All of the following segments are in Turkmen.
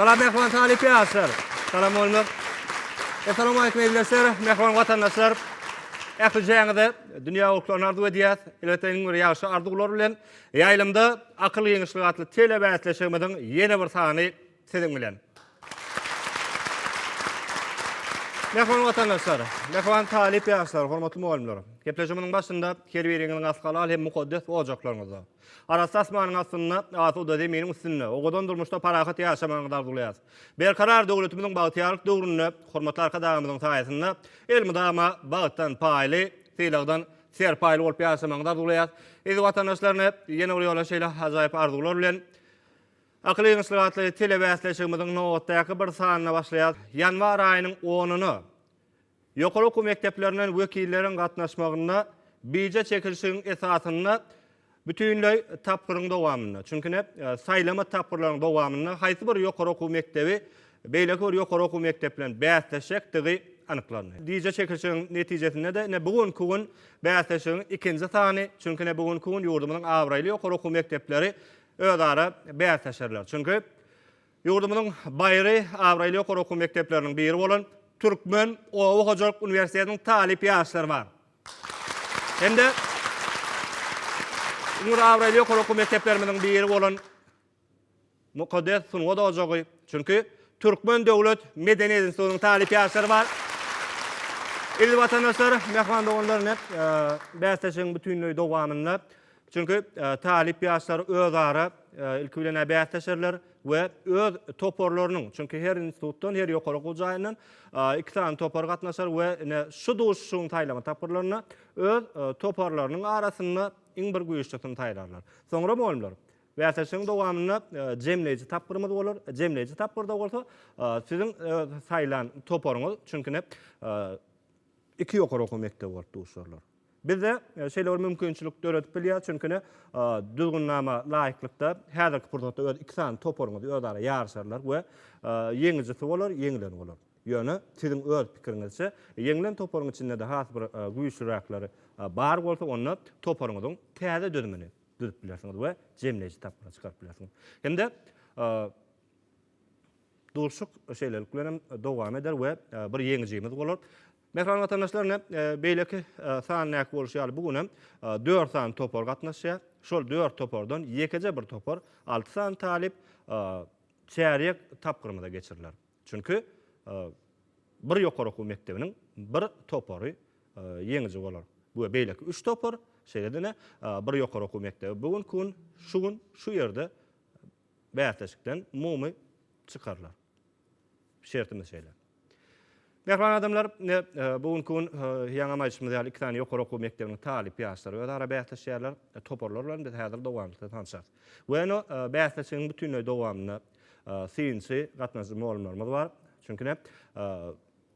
Salam mehman talyp ýaşlar. Salam bolmak. Assalamu alaykum eziz mehman watandaşlar. Ähli jaňyza dünýä ulklaryny arzuw edýäs. Elbetde iň bir ýagşy arzuwlar bilen ýaýlymda akyl ýeňişligi atly telebäsleşigimiziň ýene bir sany Siziň bilen. Mähriban watandaşlar, mähriban talyp ýaşlar, hormatly mugallymlar! Gepleşigimiziň başynda her biriňiziň as halal hem mukaddes ojaklaryňyzda, arassa asmanyň astynda, asuda zeminiň üstünde, owadan durmuşda parahat ýaşamagyňyzy arzuwlaýas. Berkarar döwletimiziň bagtyýarlyk döwründe hormatly Arkadagymyzyň saýasynda elmydama bagtdan paýly, sylagdan serpaýly bolup ýaşamagyňyzy arzuwlaýas. Eziz watandaşlar, ine, ýene bir ýola şeýle ajaýyp arzuwlar bilen! Akyl ýeňişlik atly telebäsleşigimiziň nobatdaky bir sanyna başlaýar. Ýanwar aýynyň onyna ýokary okuw mekdeplerinden wekilleriň gatnaşmagynda bije çekilişigiň esasynda bütinleý tapgyryň dowamynda, çünki ine, saýlama tapgyrlaryň dowamynda haýsy bir ýokary okuw mekdebi beýleki bir ýokary okuw mekdebi bilen bäsleşjekdigi anyklandy. Bije çekilişigiň netijesinde-de ine, bu günki gün bäsleşigiň ikinji sany, çünki ine, bu günki gün ýurdumyzyň abraýly ýokary okuw mekdepleri özara bäsleşerler. Çünki ýurdumyzyň baýry abraýly ýokary okuw mekdepleriniň biri bolan Türkmen oba hojalyk uniwersitetiniň talyp ýaşlary bar. Hem-de ýurduň abraýly ýokary okuw mekdeplerimiziň biri bolan Mukaddes sungat ojagy, çünki Türkmen döwlet medeniýet institutynyň talyp ýaşlary bar. Eziz watandaşlar, mähman doganlar, ine, bäsleşigiň bütinleý dowamynda Çünki talyp ýaşlar özara ilki bilen-ä bäsleşerler we öz toparlarynyň, çünki her institutdan, her ýokary okuw jaýyndan iki sany topar gatnaşar we ine şu duşuşygyň saýlama tapgyrlarynda öz toparlarynyň arasynda iň bir güýçlisini saýlarlar. Soňra mugallymlar, bäsleşigiň dowamynda jemleýji tapgyrymyz bolar. Jemleýji tapgyrda bolsa siziň saýlan toparyňyz, çünki ine iki ýokary okuw mekdebi bolup duşarlar. Bizde şeýle bir mümkinçilik döredip bilýär, çünki ne Düzgünnama laýyklykda häzirki pursatda öz iki sany toparyňyz özara ýaryşarlar we ýeňijisi bolar, ýeňileni bolar. Ýöne siziň öz pikiriňizçe, ýeňilen toparyň içinde-de has bir güýçlüräkleri bar bolsa, onda toparyňyzyň täze düzümini düzüp bilersiňiz we jemleýji tapgyra çykaryp bilersiňiz. Hem-de Duşuşyk şeýlelik bilen hem dowam eder we bir ýeňijimiz bolar. Mähriban watandaşlar, ine, beýleki san näki bolşy ýaly, bu gün hem dört sany topar gatnaşýar. Şol dört topardan ýekeje bir topar, alty sany talyp çärýek tapgyrymyza geçiriler. Çünki bir ýokary okuw mekdebiniň bir topary ýeňiji bolar we beýleki üç topar, şeýle-de ine, bir ýokary okuw mekdebi bu günki gün, şu gün şu ýerde Bäsleşikden umumy çykarylar. Şertimiz şeýle. Mähriban adamlar, ine, bu günki gün ýaňam aýdyşymyz ýaly iki sany ýokary okuw mekdebiniň talyp ýaşlary özara bäsleşýärler. Toparlar bilen biz häzir dowamlykda tanşarys. We ine, bäsleşigiň bütinleý dowamynda synçy, gatnaşyjy mugallymlarymyz bar. Çünki ine,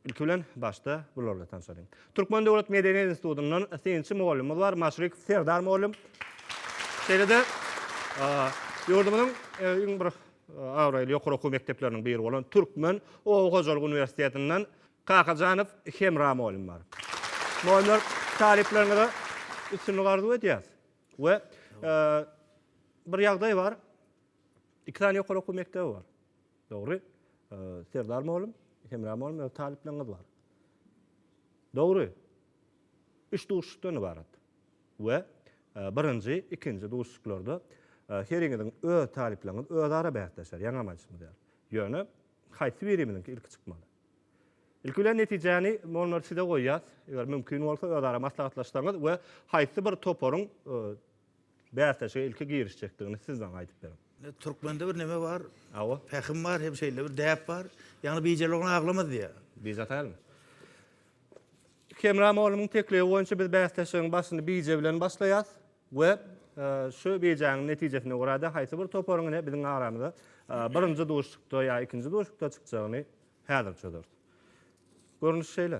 Ilki bilen, başda bular bilen tanşalyň. Türkmen döwlet medeniýet institutyndan synçy mugallymymyz bar, Maşrik Serdar mugallym. Şeýle-de ýurdumyzyň iň bir abraýly ýokary okuw mekdepleriniň biri bolan Türkmen oba hojalyk uniwersitetinden Kakajanow Hemra mugallym bar. Mugallymlar, talyplaryňyza üstünlik arzuw edýäs. We bir ýagdaý bar, iki sany ýokary okuw mekdebi bar. Dogry. Serdar mugallym, Hemra mugallym öz talyplaryňyz bar. Dogry. Üç duşuşykdan ybarat. We birinji, ikinji duşuşyklarda heriňiziň öz talyplaryňyz özara bäsleşer, ýaňam aýdyşym ýaly. Ýöne haýsy birimiziňki ilki çykmaly? Ilki bilen netijäni mugallymlar size goýýas. Eger mümkin bolsa özara maslahatlaşsaňyz we haýsy bir toparyň bäsleşige ilki girişjekdigini siz maňa aýdyp beriň. Türkmende bir neme bar, Hawa. pähim bar hem şeýle bir däp bar, Ýagny bijeli oglan aglamaz diýýär. Bije ataýarmy? Hemra mugallymyň teklibi boýunça biz bäsleşigiň başyny bije bilen başlaýas we şu bijäniň netijesine görä-de haýsy bir toparyň ine biziň aramyza birinji duşuşykda ýa ikinji duşuşykda çykjagyny häzir çözeris. Görnüş şeýle.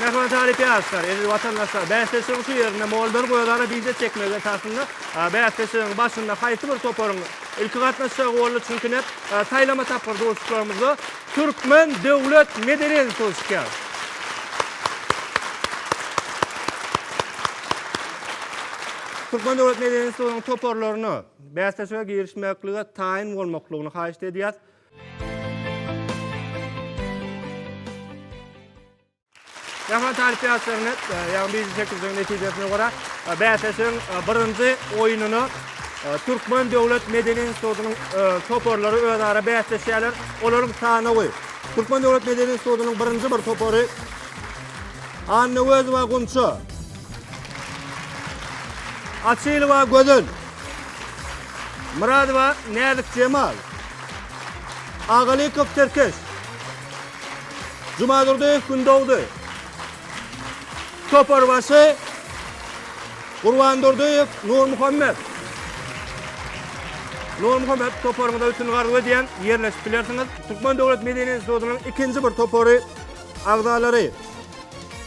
Mähriban talyp ýaşlar, eziz watandaşlar! Bäsleşigiň şu ýerinde Moldary gözara bize çekmek esasynda bäsleşigiň başynda haýsy bir toparyň ilki gatnaşjagy boldy, çünki nä saýlama tapgyr duşuşyklarymyzda Türkmen döwlet medeni instituty çykýar. Türkmen döwlet medeni institutynyň toparlaryna bäsleşige girişmeklige taýyn bolmaklygyny haýyşt edýäs. Ýaman taryp ýaşlaryny, ýagny bizi çekildigiň netijesine görä, bäsleşigiň birinji oýnuny Türkmen döwlet medeni institutynyň toparlary özara bäsleşýärler. Olaryň sanawy. Türkmen döwlet medeni institutynyň birinji bir topary Annaöwezowa Gunça. Açylowa Gözel, Myradowa Näzik Jemal, Agalykow Tirkeş, Jumadurdyýew Gündogdy, Toparbaşy Gurbandurdyýew Nurmuhammet. Nurmuhammet toparyňyza üstünlik arzuw edýän, ýerleşip bilersiňiz. Türkmen döwlet medeni institutynyň ikinji bir topary agzalary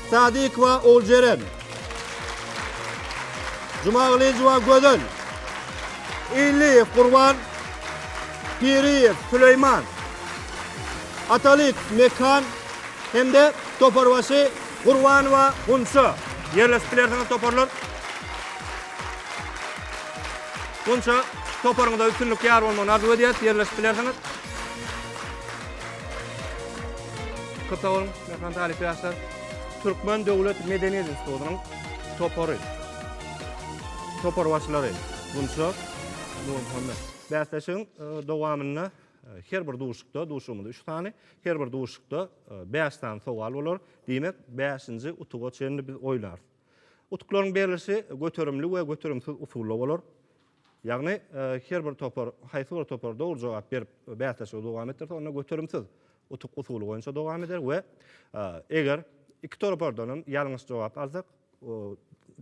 Sadikowa Oljeren, Jumagylyjowa Gözel, Illiýew Gurban, Piriýew Süleýman, Atalyk Mekan hem-de toparbaşy Gurbanowa Gunça. Ýerleşip bilersiňiz toparlar. Gunça, toparyňyza üstünlik ýar bolmagyny arzuw edýäris. Ýerleşip bilersiňiz. Köp sag boluň, mähriban talyp ýaşlar! Türkmen döwlet medeniýet institutynyň topary, toparbaşylary Gunça, Nurmuhammet. Bäsleşigiň dowamynda her bir duşukda, duşugymyz üç sany, her bir duşukda bäş sany sowal bolar. Diýmek, bäşinji utuga çenli biz oýnarys. Utuklaryň berlişi göterimli we göterimsiz usulda bolar. Ýagny, her bir topar, haýsy bir topar dogry jogap berip, bäsleşigi dowam etdirse, onda göterimsiz utuk usuly boýunça dowam eder we eger iki topardan hem ýalňyş jogap alsak,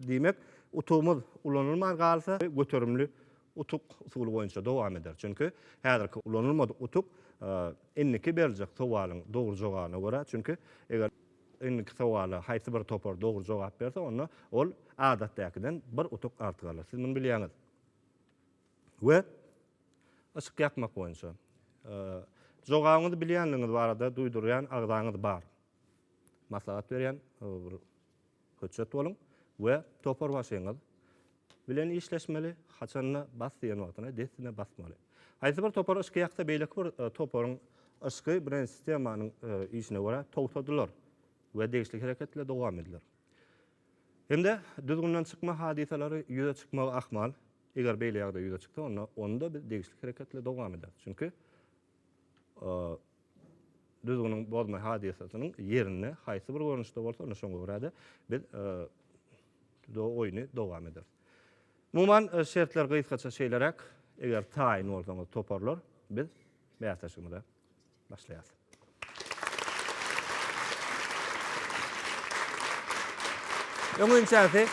diýmek, utugymyz ulanylman galsa, göterimli utuk usuly boýunça dowam eder. Çünki, häzirki ulanylmadyk utuk indiki beriljek sowalyň dogry jogabyna görä, çünki, eger Indiki sowala haýsy bir topar dogry jogap berse, onda ol adatdäkiden bir utuk artyk alar. Siz muny bilýäňiz. We yşyk ýakmak boýunça. Jogabyňyzy bilýänligiňiz barada duýdurýan agzaňyz bar. Maslahat berýän bir höçjet boluň we toparbaşyňyz bilen işleşmeli, haçanda bas diýen wagtyna dessine basmaly. Haýsy bir topar yşky ýaksa beýleki bir toparyň yşky bilen sistemanyň işine görä togtadylar we degişli hereketler dowam ediler. Hem-de düzgünden çykma hadysalary ýüze çykmagy ahmal, eger beýle ýagdaý ýüze çyksa onda onda biz degişli hereketler dowam eder. Çünki düzgüniň bozma hadysasynyň ýerine haýsy bir görnüşde bolsa, ine şoňa görä-de biz do oýny dowam ederis. Umuman, şertler gysgaça şeýleräk, eger taýyn bolsaňyz toparlar, biz bäsleşigimize başlaýarys. Öňinçäsi,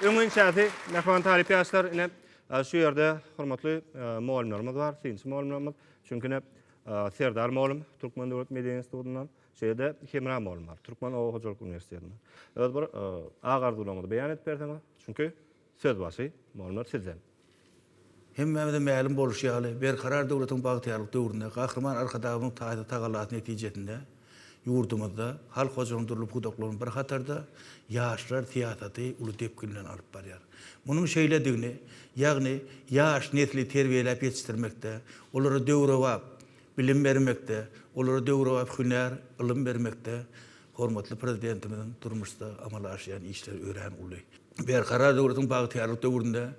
öňinçäsi, mähriban talyp ýaşlar, ine, Şu ýerde hormatly mugallymlarymyz bar, synçy mugallymlarymyz. Çünki ine, Serdar mugallym Türkmen döwlet medeniýet institutyndan, şeýle-de Hemra mugallym bar, Türkmen oba hojalyk uniwersitetinden. Öz bir agy-arzuwlaryňyzy beýan edip berseňiz, çünki söz başy, mugallymlar, sizden. Hemmämize mälim bolşy ýaly, Berkarar döwletiň bagtyýarlyk döwründe Gahryman Arkadagymyzyň taýsyz tagalasy netijesinde, Ýurdumyzda halk hojalygynyň dürli pudaklarynyň bir hatarda ýaşlar syýasaty uly depgin bilen alyp barýar. Munuň şeýledigini, ýagny ýaş nesli terbiýeläp ýetişdirmekde, olara döwrebap bilim bermekde, olara döwrebap hünär, ylym bermekde hormatly Prezidentimiziň durmuşda amala aşyrýan işleri örän uly. Berkarar döwletiň bagtyýarlyk döwründe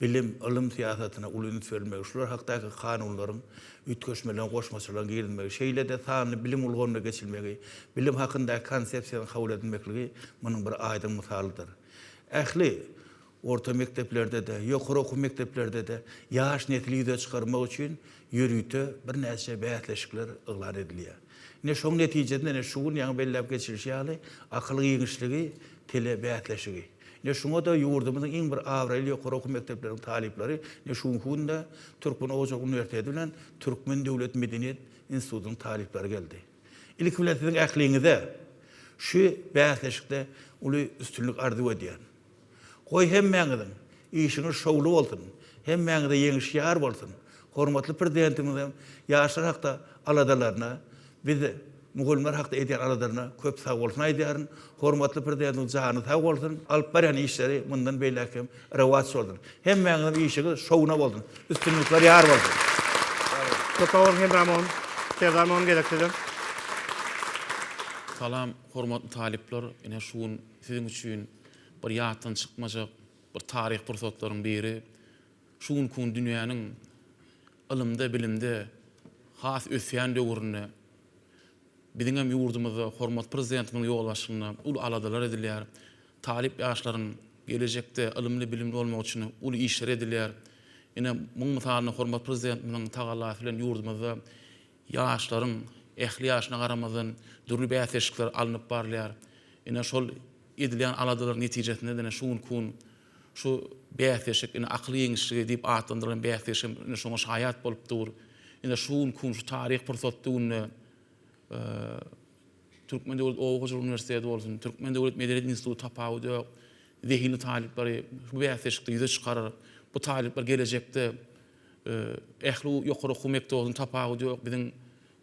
bilim, ylym syýasatyna uly üns berilmegi, şular hakdaky kanunlaryň, üýtgeşmeleriň, goşmaçalaryň girizilmegi, şeýle-de sanly bilim ulgamyna geçilmegi, bilim hakyndaky Konsepsiýanyň kabul edilmekligi munuň bir aýdyň mysalydyr. Ähli orta mekdeplerde-de, ýokary okuw mekdeplerde-de ýaş nesli ýüze çykarmak üçin ýörite birnäçe bäsleşikler yglan edilýär. Ine, şoň netijesinde, ine, şu gün ýaňy belläp geçilişi ýaly, akyl giňişligi, tele bäsleşigi. Ine, şuňa-da ýurdumyzyň iň bir abraýly ýokary okuw mekdepleriniň talyplary, ine, şu günki günde Türkmen hojalyk uniwersiteti bilen Türkmen döwlet medeniýet institutynyň talyplary geldi. Ilki bilen siziň ähliňize şu bäsleşikde uly üstünlik arzuw edýän. Goý hemmäňiziň işiňiz şowly bolsun, hemmäňize ýeňiş ýar bolsun! Hormatly Prezidentimiziň ýaşlar hakda aladalaryna, biz mugallymlar hakda edýän aladaryna köp sagbolsun aýdýaryn. Hormatly Prezidentimiziň jany sag bolsun, alyp barýan işleri mundan beýläk hem rowaç bolsun. Hemmäňiziň işiňiz şowuna bolsun, üstünlikler ýar bolsun! Köp sag boluň Hemra Mogun. Serdar Mogun gezek sizem. Salam hormatly talyplar ine şu gün. Siziň üçin bir ýatdan çykmajak bir taryhy pursatlaryň biri, şu günki gün dünýäniň ylymda, bilimde has ösýän döwründe biziň hem ýurdumyzda hormatly Prezidentimiziň ýolbaşçylygynda uly aladalar edilýär. Talyp ýaşlaryň gelejekde ylymly-bilimli bolmagy üçin uly işler edilýär. Ine, muň mysalynda hormatly Prezidentimiziň tagallasy bilen ýurdumyzda Ýaşlaryň ähli ýaşyna garamazdan dürli bäsleşikler alnyp barylýar. Ine şol edilýän aladalaryň netijesinde-de ine şu günki gün şu bäsleşik ine akyl ýeňişligi diýip atlandyrylan bäsleşigimiz ine şoňa şaýat bolup dur. Ine şu günki gün şu taryhy pursatly günde Türkmen döwlet oba hojalyk uniwersiteti bolsun, Türkmen döwlet medeniýet instituty tapawut ýok, zehinli talyplary bu bäsleşikde ýüze çykarar. Bu talyplar gelejekde Ähli ýokary okuw mekdebiniň tapawudy ýok, biziň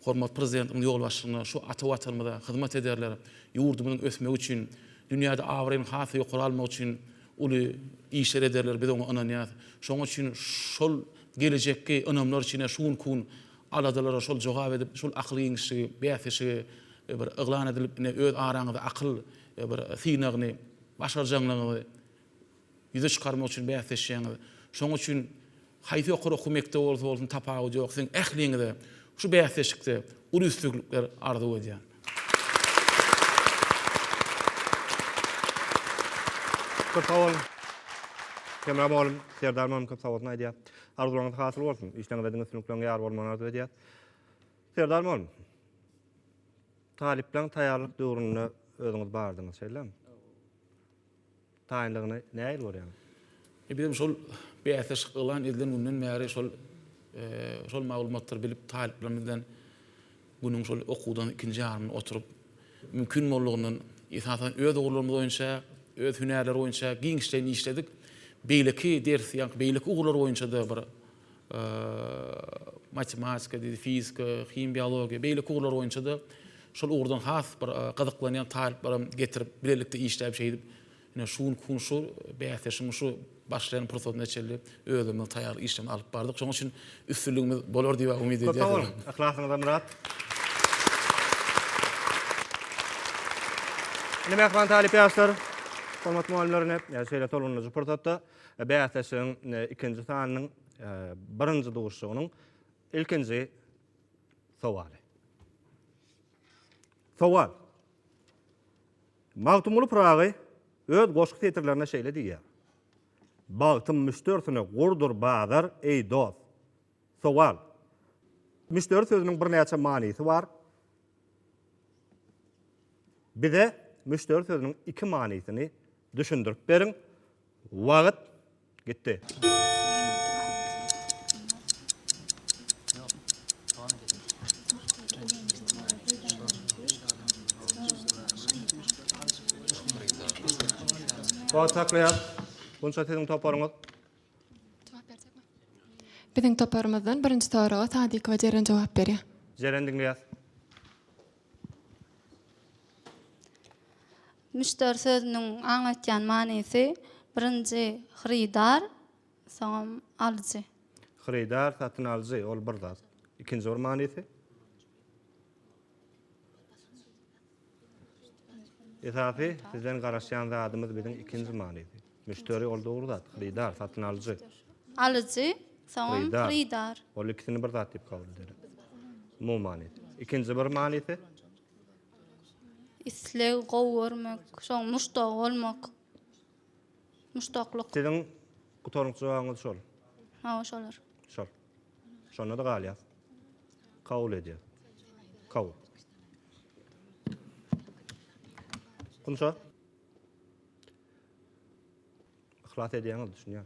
hormatly Prezidentimiziň ýolbaşçylygynda şu ata Watanymyza hyzmat ederler, ýurdumyzyň ösmegi üçin, dünýäde abraýyny has-da ýokary almak üçin uly işler ederler, biz oňa ynanýarys. Şonuň üçin şol gelejekki ynamlar içinde şu günki gün aladalara şol jogap edip, şol akyl giňişligi, bäsleşigi bir yglan edilip, ine, öz araňyzda akyl bir synagyny başarjaňlygyňyzy Ýüze çykarmak üçin bäsleşýäňiz. Şonuň üçin haýsy ýokary okuw mekdebi bolsa bolsun tapawudy ýok, siziň ähliňize şu bäsleşikde uly üstüglikler arzuw edýän. Köp sag boluň. Hemra mugallym, Serdar mugallym köp sag bolsun aýdýas. Arzuwlaryňyz hasyl bolsun. Işleňizde diňe üstünlikleriň ýar bolmagyny arzuw edýäs. Serdar mugallym, talyplaň taýýarlyk döwründe özüňiz bardyňyz, şeýlemi? taýynlygyny nähili görýäňiz? Biz hem şol bäsleşik yglan edilen günden bäri şol şol maglumatlary bilip talyplarymyz bilen günüň şol okuwdan ikinji ýarymynda oturyp mümkin boldugyndan esasan öz ugurlarymyz boýunça öz hünärler boýunça giňişleýin işledik. Beýleki ders ýa-da beýleki ugurlar boýunça-da bir matematika, fizika, himiýa, biologiýa, beýleki ugurlar boýunça-da şol ugurdan has bir gyzyklanýan talyplaram getirip, bilelikde işläp şeýdip, ine şu günki gün şu bäsleşigiň şu başlaýan pursatyna çenli özümiziň taýýarlyk işlerini alyp bardyk. Şonuň üçin üstünligimiz bolar diýip umyt edýäris. Köp sag boluň, yhlasyňyza myrat. Ine mähriban talyp ýaşlar, hormatly mugallymlar ine şeýle tolgundyryjy pursatda. Bäsleşigiň ikinji sanynyň birinji duşuşygynyň ilkinji sowaly. Sowal. Magtymguly Pyragy öz goşgy setirlerinde şeýle diýýär. Bagtym müşderisine gurdur bazar, eý dost. Sowal. Müşderi sözüniň birnäçe manysy bar. Bize müşderi sözüniň iki manysyny düşündirip beriň. Wagyt gitdi. Wagt saklaýas. Bunça siziň toparyňyz. Biziň toparymyzdan birinji soraga Sadykowa Jeren jogap berýär. Jeren diňleýäs. Müşderi sözüniň aňlatýan manysy birinji hyrydar, soňam alyjy. Hyrydar, satyn alyjy ol bir zat. Ikinji bir manysy? Esasy sizden garaşýan zadymyz biziň ikinji manydy. Müşderi ol dogry zat, hyrydar, satyn alyjy. Alyjy, soňam hyrydar. Ol ikisini bir zat diýip kabul ederin. Umumy manysy. Ikinji bir manysy? Isleg, gowy görmek, soň muşdagy bolmak. Muşdaklyk. Siziň gutaryňky jogabyňyz şol. Hawa, şolar. Şol. Şonda-da galýas. Kabul edýär. Kabul. Kunça? Yhlas edýäňiz, düşünýän.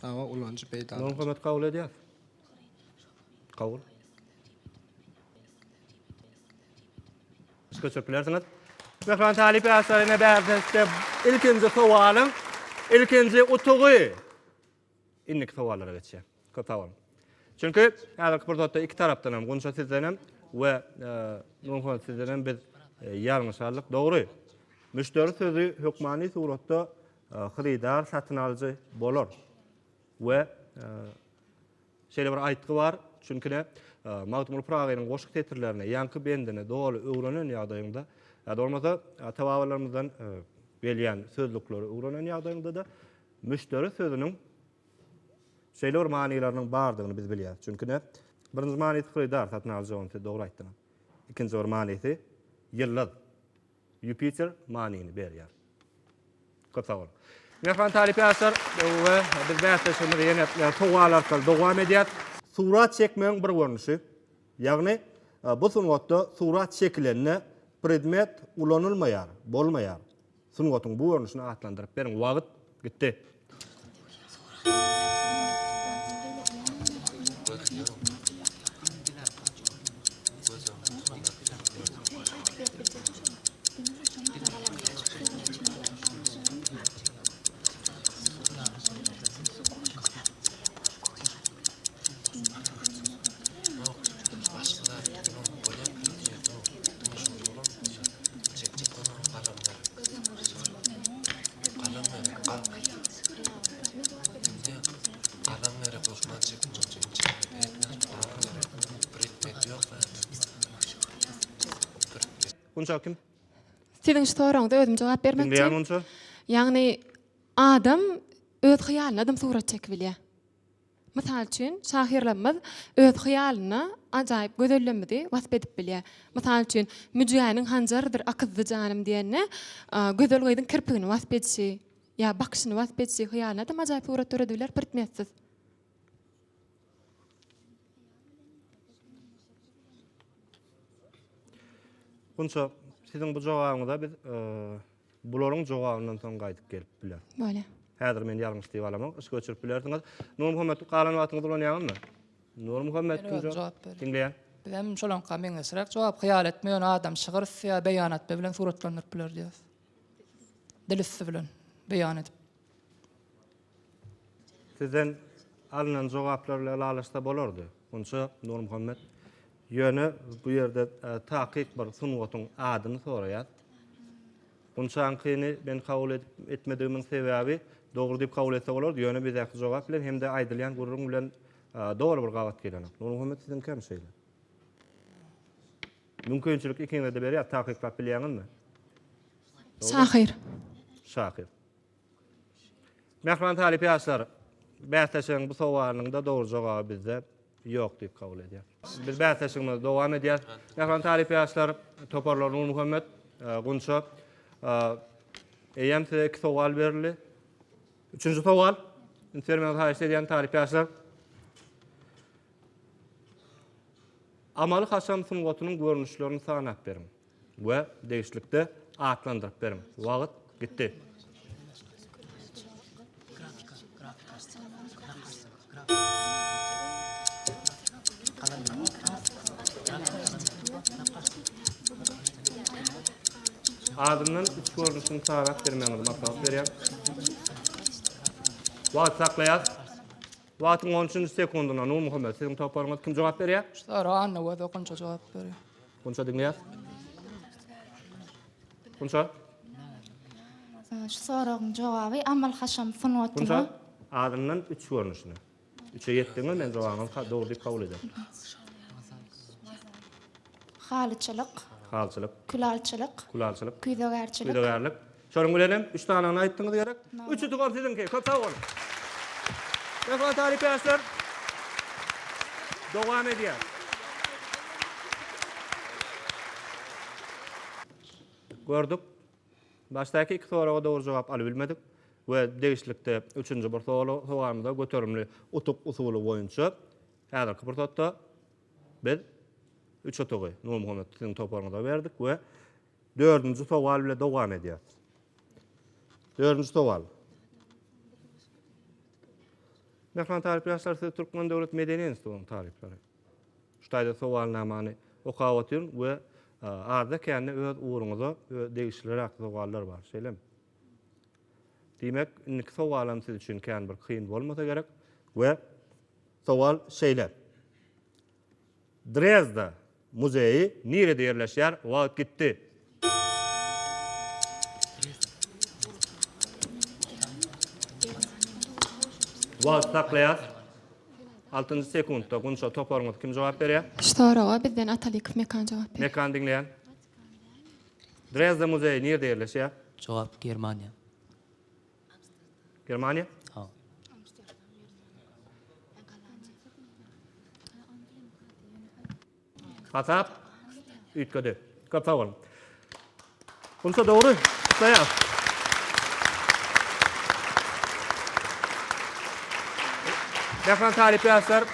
Saba ulanyjy peýdalanyjy. Muňa hökümet kabul edýär. Kabul. Siz köçürip bilersiňiz. Mehman talyp ýaşlaryna bäsleşikde ilkinji sowalyň ilkinji utugy Indiki sowallara geçýän. Köp sag boluň. Çünki häzirki pursatda iki tarapdan hem, Gunça sizden hem we Nurmuhammet sizden hem biz ýalňyş aldyk. Dogry, müşderi sözi hökmany suratda hyrydar, satyn alyjy bolar we şeýle bir aýtgy bar, çünki-de Magtymguly Pyragynyň goşgy setirlerini, ýaňky bendini doly öwrenen ýagdaýyňda, ýa-da bolmasa ata-babalarymyzdan gelýän sözlükleri öwrenen ýagdaýyňda-da, Müşderi sözüniň şeýle bir manylarynyň bardygyny biz bilýäris. Çünki näme? Birinji manysy hyrydar, satyn alyjy, ony siz dogry aýtdyňyz. Ikinji bir manysy ýyldyz, Ýupiter manyny berýär. Köp sag boluň. Mähriban talyp ýaşlar we biz bäsleşigimizi ýene sowal arkaly dowam edýäs. Surat çekmegiň bir görnüşi, ýagny bu sungatda surat çekilende predmet ulanylmaýar, bolmaýar. Sungatyň bu görnüşini atlandyryp beriň. Wagyt gitdi. Siziň şu soragyňyza özüm jogap bermekçi. Ýagny adam öz hyýalyna adam surat çekibilýär. Mysal üçin, şahyrlarymyz öz hyýalynda ajaýyp gözellemidi wasp edip bilýär. Mysal üçin, Müjgäniň hanjarydyr akyzdy janym diýende, gözel gyzyň kirpigini wasp edişi ýa bakyşyny wasp edişi hyýalynadam ajaýyp surat döredip biler pirtmetsiz. Gunça, siziň bu jogabyňyza biz Bularyň jogabyndan soň gaýdyp gelip biler. Bolýa. Häzir men ýalňyş diýip alamok. Yşk öçürip bilersiňiz. Nurmuhammet galan wagtyňyzy ulanýaňyzmy? Nurmuhammet kim jogap ber. Diňleýän. Bizem şolaňka meňzeşräk jogap hyýal etme ýöne adam şygyr ýa beýan etme bilen suratlandyryp biler diýýäs. Dil üsti bilen beýan edip. Sizden alnan jogaplar bile ylalaşsa bolardy. Munça Nurmuhammet ýöne bu ýerde takyk bir sungatyň adyny soraýar. Munçankyny men kabul edip etmedigimiň sebäbi dogry diýip kabul etse bolardy, ýöne bizdäki jogap bilen hem-de aýdylýan gürrüň bilen doly bir gabat gelenok. Nurmuhammet siziňki hem şeýle. Mümkinçilik ikiňize-de berýär, takyklap bilýäňizmi? Şahyr. Şahyr. Mähriban talyp ýaşlar, bäsleşigiň bu sowalynyň-da dogry jogaby bizde ýok diýip kabul edýär. Biz bäsleşigimizi dowam edýäs. Mähriban talyp ýaşlar, toparlar Nurmuhammet, Gunça, eýýäm size iki sowal berildi. Üçünji sowal, üns bermegiňizi haýyş edýän talyp ýaşlar. Amaly-haşam sungatynyň görnüşlerini sanap beriň. we degişlikde atlandyryp beriň. Wagt gitdi. Adyndan üç görnüşini sarap bermegiňizi maslahat berýär. Wagt saklaýas. Wagtyň on üçünji sekundyna Nurmuhammet siziň toparyňyz kim jogap berýär? Şu sora Anna we Dokunja jogap berýär. Gunça diňleýäs. Gunça. Şu soragyň jogaby amal-haşam sungatyny. Gunça adyndan üç görnüşini. Üçe ýetdiňmi men jogabyňy ka dogry diýip kabul ederin. Halyçylyk. Halyçylyk. Külalçylyk. Külalçylyk. Küýzegärçilik. Küýzegärlik. Şonuň bilen hem üç sanyny aýtdyňyz gerek. Üç utugar siziňki. Köp sag boluň. Rehber talyp ýaşlar dowam edýär. Gördük. Başdaky iki soraga dogry jogap alybilmedik we degişlikde üçünji bir sogalymyza göterimli utuk usuly boýunça häzirki pursatda biz üç utugy Nurmuhammet siziň toparyňyza berdik we Dördünji sowal bile dowam edýäs. Dördünji sowal. Mehman talyp ýaşlar siz Türkmen döwlet medeni institutynyň talyplary. Şu taýda sowalnamany okap otyryn we azda kände öz ugruňyza degişliräk sowallar bar. Şeýlemi? Diýmek, indiki sowalam siz üçin kän bir kyn bolmasa gerek we sowal şeýle. Drezda muzeýi nirede ýerleşýär? Wagt gitdi. Wagty saklaýas. Altynjy sekuntda Gunça toparyňyz kim jogap berýär? Soraga bizden Atalykow Mekan jogap berýär. Mekan diňleýän. Drezda muzeýi nirede ýerleşýär? Jogap Germaniýa. Germaniýa? Ha. Hatap üýtgedi. Köp sag bolun. Bunça dogry. Gutlaýar. Mähriban talyp ýaşlar,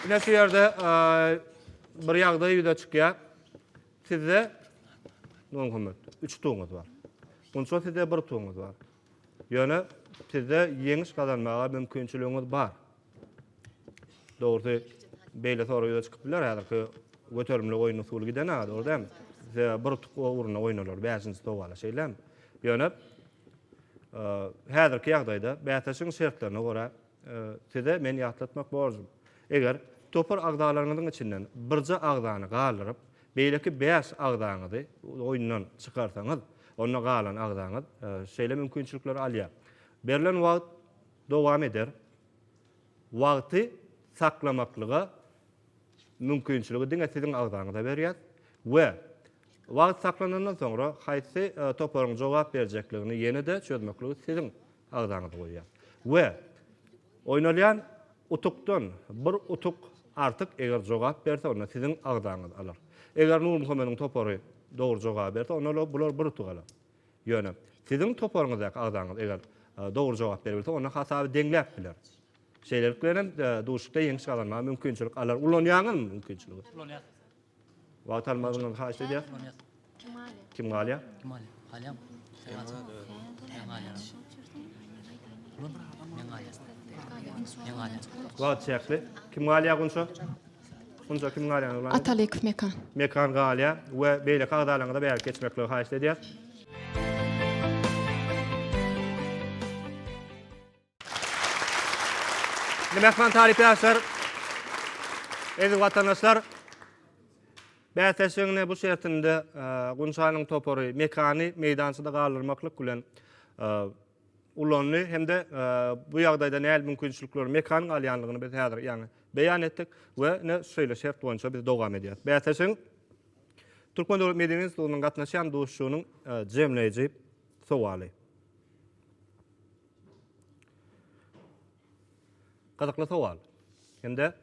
ine şu ýerde bir ýagdaý ýüze çykýar. Sizde on gymmat üç tuňyz bar. Munça sizde bir tuňyz bar. Ýöne sizde ýeňiş gazanmaga mümkinçiligiňiz bar. Dogrusy beýle sorag ýüze çykyp biler häzirki göterimli oýun usuly giden aga dogry dämi? Size bir tuk ugruna oýnalar bäşinji sowala şeýlemi? Ýöne häzirki ýagdaýda bäsleşigiň şertlerine görä Size men ýatlatmak borjum. Eger topar agzalaryňyzyň içinden birje agzany galdyryp, beýleki bäş agzaňyzy oýundan çykarsaňyz, onda galan agzaňyz şeýle mümkinçilikleri alýar. Berlen wagt dowam eder. Wagty saklamaklyga mümkinçiligi diňe siziň agzaňyza berýär we wagt saklanandan soňra haýsy toparyň jogap berjekligini ýene-de çözmekligi siziň agzaňyza goýýar we oýnalýan utukdan bir utuk artyk eger jogap berse onda siziň agzaňyz alar. Eger Nurmuhammediň topary dogry jogaby berse onda bular bir utuk alar. Ýöne, siziň toparyňyzdaky agzaňyz eger dogry jogap berebilse, onda hasaby deňläp biler. Şeýlelik bilen hem duşuşykda ýeňiş gazanmaga mümkinçilik alar. Ulanýaňyzmy mümkinçiligi? Ulanýas. Wagt almazlygyňyzy haýyşt edýäs. Ulanýas. Kim galýar? Kim galýar? Kim galýar? Galýarmy? Sen galýarmy? Men galýaryn. Ulan, men galýaryn. Men galýaryn. Wagt çäkli. Kim galýar Gunça? Şunça kim galýan? Atalyk Mekan. Mekan galýa we beýleki agzalaryňyza bärik geçmekligi haýyşt edýäs. Mehman talyp ýaşlar, eziz watandaşlar, bäsleşigiň ine bu şertinde Gunçanyň topary Mekany meýdançada galdyrmaklyk bilen ulandy hem-de bu ýagdaýda nähili mümkinçilikler, mekanyň alýandygyny biz häzir, ýagny, beýan etdik we ine, şeýle şert boýunça biz dowam edýäris. Bäsleşigiň Türkmen döwlet medeni institutynyň gatnaşýan duşuşygynyň jemleýji sowaly. Gyzykly sowal. Hem-de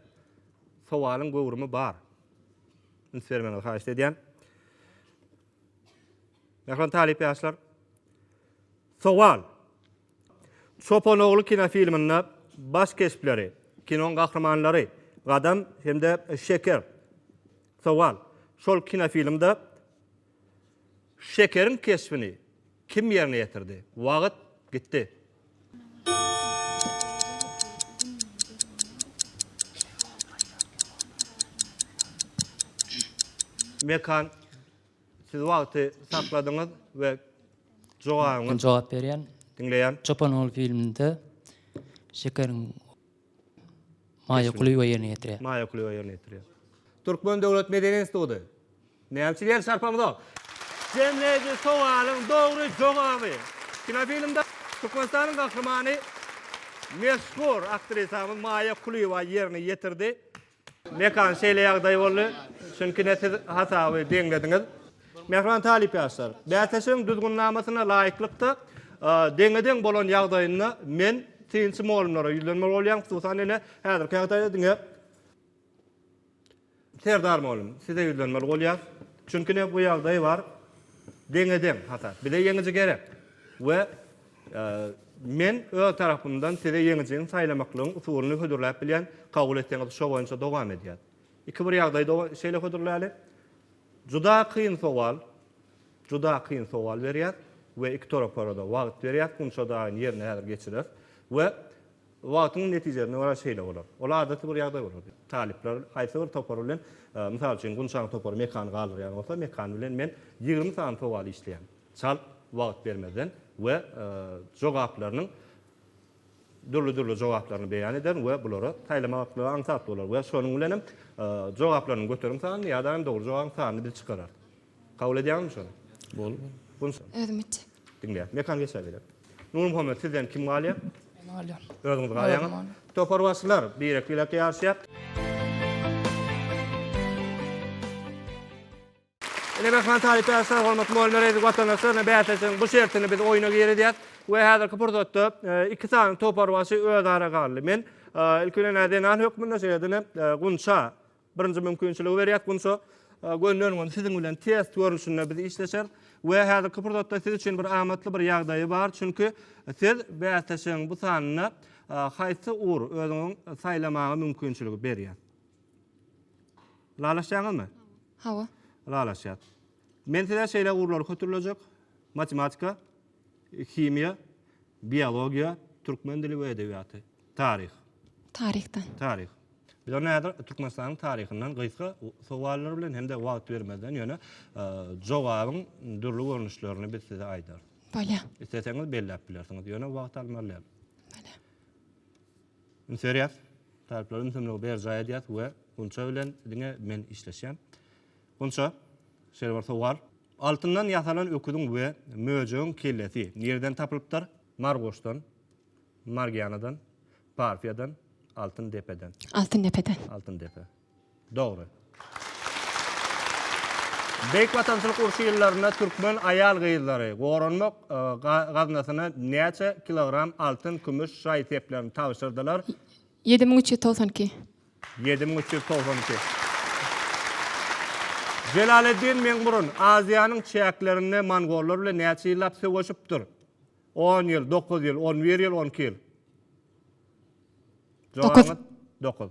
sowalyň göwrümi bar. Üns bermegiňizi haýyşt edýän. Mähriban talyp ýaşlar. Sowal. Çopan ogly kinofilminde baş keşpleri, kinoň gahrymanlary, Gadam hem-de Şeker. Sowal. Şol kinofilmde Şekeriň keşbini kim ýerine ýetirdi? Wagyt gitdi. Mekan, siz wagty sakladyňyz we jogabyňyz. Men jogap berýän. Diňleýän. Çopan ogly filminde Şekeriň Maýa Kulyýewa ýerine ýetirýär. Maýa Kulyýewa ýerine ýetirýär. Türkmen döwlet medeni instituty. Näme üçin ýer çarpamyzok? Jemleýji sowalyň dogry jogaby. Kinofilmde Türkmenistanyň gahrymany, meşhur aktrisamyz Maýa Kulyýewa ýerine ýetirdi. Mekan şeýle ýagdaý boldy, çünki ine siz hasaby deňlediňiz. Mähriban talyp ýaşlar, bäsleşigiň düzgünnamasyna laýyklykda deňe-deň bolan ýagdaýynda men synçy mugallymlara ýüzlenmeli bolýan, hususan ine häzirki ýagdaýda diňe Serdar mugallym size ýüzlenmeli bolýas, çünki ine bu ýagdaý bar, deňe-deň hasap. Bize ýeňiji gerek we Men öz tarapymdan size ýeňijini saýlamaklygyň usulyny hödürläp bilýän, kabul etseňiz şo boýunça dowam edýän. Iki bir ýagdaýda şeýle hödürläli. Juda kyn sowal, juda kyn sowal berýär we iki toraparada wagt berýär, funça daýyn ýerine häzir geçirer we wagtyň netijesine görä şeýle bolar. Ol adaty bir ýagdaý bolar. Talyplar haýsy bir topar bilen, mysal üçin, Gunçaň topary mekany galdyrýan bolsa, mekan bilen men ýigrimi sany sowal işleýän. çalt wagt bermezden we jogaplarynyň dürli-dürli jogaplaryny beýan ederin we bulara saýlamaklygy aňsat bolar we şonuň bilen hem jogaplarynyň göterim sanyny ýa-da hem dogry jogabyň sanyny biz çykararys. Kabul edýäňizmi şony? Boldy. Özüm etjek. Diňleýän. Mekan geçer beýläk. Nurmuhammet, sizden kim galýar? Men galýan. Özüňiz galýaňyz. Toparbaşylar birek-birek ýaryşýar. Ine, Rahman Talyp Ärsaý, hormatly mugallymlar, eziz watandaşlar, bäsleşigiň bu şertinde biz oýna girizýäs we häzirki pursatda iki sany toparbaşy özara galdy. Men ilki bilen ä zenan hökmünde, şeýle-de Gunça birinji mümkinçiligi berýäs. Gunça, gönüden-göni siziň bilen test görnüşinde biz işleşeris we häzirki pursatda siz üçin bir amatly bir ýagdaýy bar, çünki siz bäsleşigiň bu sanynda haýsy ugur özüňiň saýlamaga mümkinçiligi berýär? Ylalaşýaňyzmy? Hawa. Ylalaşýas. Men size şeýle ugurlary hötürlejek, matematika, himiýa, biologiýa, türkmen dili we edebiýaty, taryh. Taryhdan. Taryh. Biz onda häzir Türkmenistanyň taryhyndan gysga sowallar bilen hem-de wagt bermezden ýöne jogabyň dürli görnüşlerini biz size aýdarys. Bolýar. Isleseňiz belläp bilersiňiz, ýöne wagt almaly däl. Bolýar. Ünserýas, talyplara ünsemligi berjaý edýäs we Gunça bilen diňe men işleşýän. Gunça, şeýle bir sowal. Altyndan ýasalan öküziň we möjegiň kellesi nireden tapylypdyr? Margoşdan, Margianadan, Parfiýadan, Altyn depeden. Altyn depeden. Altyn depe. Dogry. Beýik Watançylyk urşy ýyllarynda türkmen aýal-gyzlary goranmak gaznasyna näçe kilogram altyn, kümüş, şaý seplerini tabşyrdylar? Ýedi müň üç ýüz togsan iki. Ýedi müň üç ýüz togsan iki. Jelaleddin Meňburun Aziýanyň çäklerinde mongollar bilen näçe ýyllap söweşipdir? On ýyl, dokuz ýyl, on bir ýyl, on iki ýyl. Jogabyňyz? Dokuz.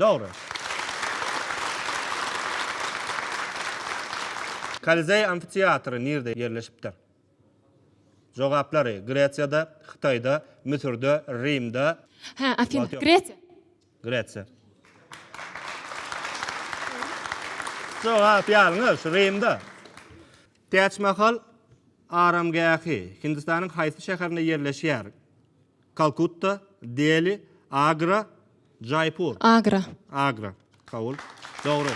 Dogry. Kolizeý amfiteatry nirde ýerleşipdir? Jogaplary, Gresiýada, Hytaýda, Müsürde, Rimde. Hä, Afina, Gresiýa. Gresiýa. Jogap ýalňyş, Rimde. Täçmahal aramgähi Hindistanyň haýsy şäherinde ýerleşýär? Kalkutta, Deli, Agra, Jaýpur. Agra. Agra. Kabul. Dogry.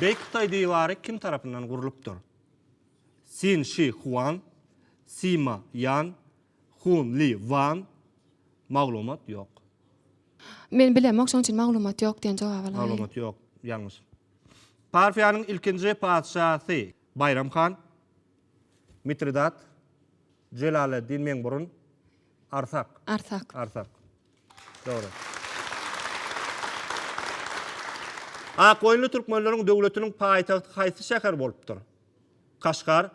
Beýik Hytaý diwary kim tarapyndan gurlupdyr? Sin Şi Huan, Sima Ýan, Hun Li Wan, Maglumat ýok. Men bilemok, şonuň üçin maglumat ýok diýen jogaby alaýyn. Maglumat ýok, ýalňyş. Parfiýanyň ilkinji patyşasy, Baýram han, Mitridat, Jelaleddin Meňburun, Arsak. Arsak. Arsak. Dogry. Akgoýunly türkmenleriň döwletiniň paýtagty haýsy şäher bolupdyr? Kaşgar,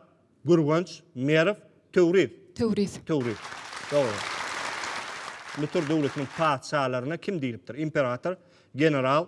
Gürgenç, Merw, Töwriz. Töwriz. Töwriz. Dogry. Müsür döwletiniň patyşalaryna kim diýlipdir? Imperator, general,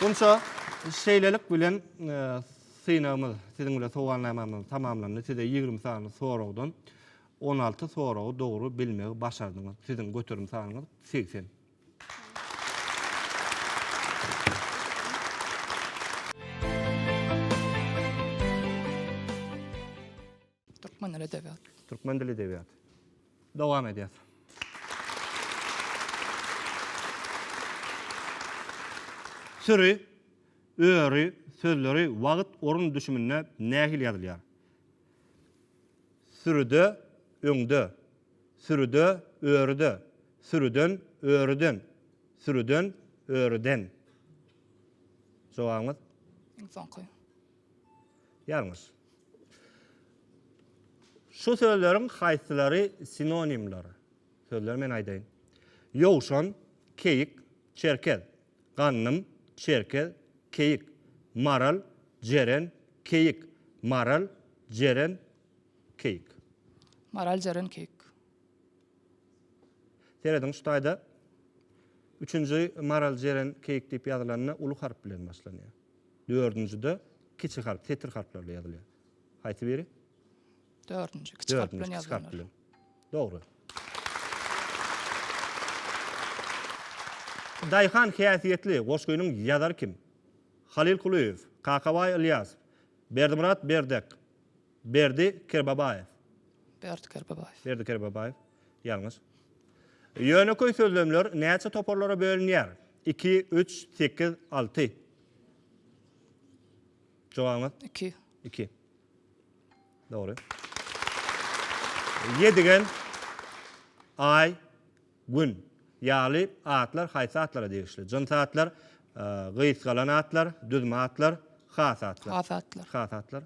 Onça şeýlelik bilen synagymyz siziň bilen sowalnamamyz tamamlandy. Size ýigrimi sany soragdan on alty soragy dogry bilmegi başardyňyz. Siziň göterim sanyňyz segsen. Türkmen dili edebiýat. Türkmen dili edebiýat. Dowam edýäs. Süri, öri sözleri wagt, orun düşüminde nähili ýazylýar? Sürüde, öňde. Sürüde, örüde. Sürüden, örüden. Sürüden, örüden. Jogabyňyz? Iň soňky. Ýalňyş. Şu sözleriň haýsylary sinonimler? Sözleri men aýdaýyn. Ýowşan, keýik, çerkez. Gandym, çerkez, keýik. Maral, jeren, keýik. Maral, jeren, keýik. Maral, jeren, keýik. Serediň şu taýda üçünji maral, jeren, keýik diýip ýazylanda uly harp bilen başlanýar. Dördünjide kiçi harp, setir harplar bilen ýazylýar. Haýsy biri? Dördünji, kiçi harp bilen ýazylanlar. Dördünji, kiçi harp bilen. Dogry. Daýhan häsiýetli goşgynyň ýazary kim? Halyl Kulyýew, Kakabaý Ylýasow, Berdimyrat Berdek, Berdi Kerbabaýew. Berdi Kerbabaýew. Berdi Kerbabaýew. Ýalňyş. Ýönekeý sözlemler näçe toparlara bölünýär? Iki, üç, sekiz, alty. Jogabyňyz? Iki. Iki. Dogry. Ýedigen, aý, gün. Ýaly atlar haýsy atlara degişli? Jyns atlar, gysgalan atlar, düzme atlar, has atlar. Has atlar. Has atlar.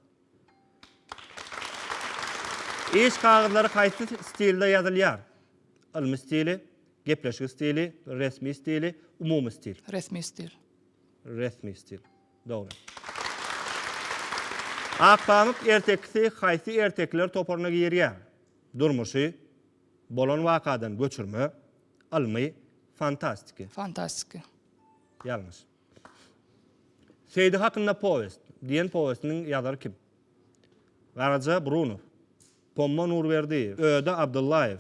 Iş kagyzlary haýsy stilde ýazylýar? Ylmy stili, gepleşik stili, resmi stili, umumy stil. Resmi stil. Resmi stil. Dogry. Akpamyk ertekisi haýsy ertekiler toparyna girýär? Durmuşy, bolan wakadan göçürme, ylmy, fantastiki. Fantastiki. Ýalňyş. Seýdi hakynda powest diýen powestiniň ýazary kim? Garaja Brunow, Pomma Nurberdiýew, Öde Abdyllaýew,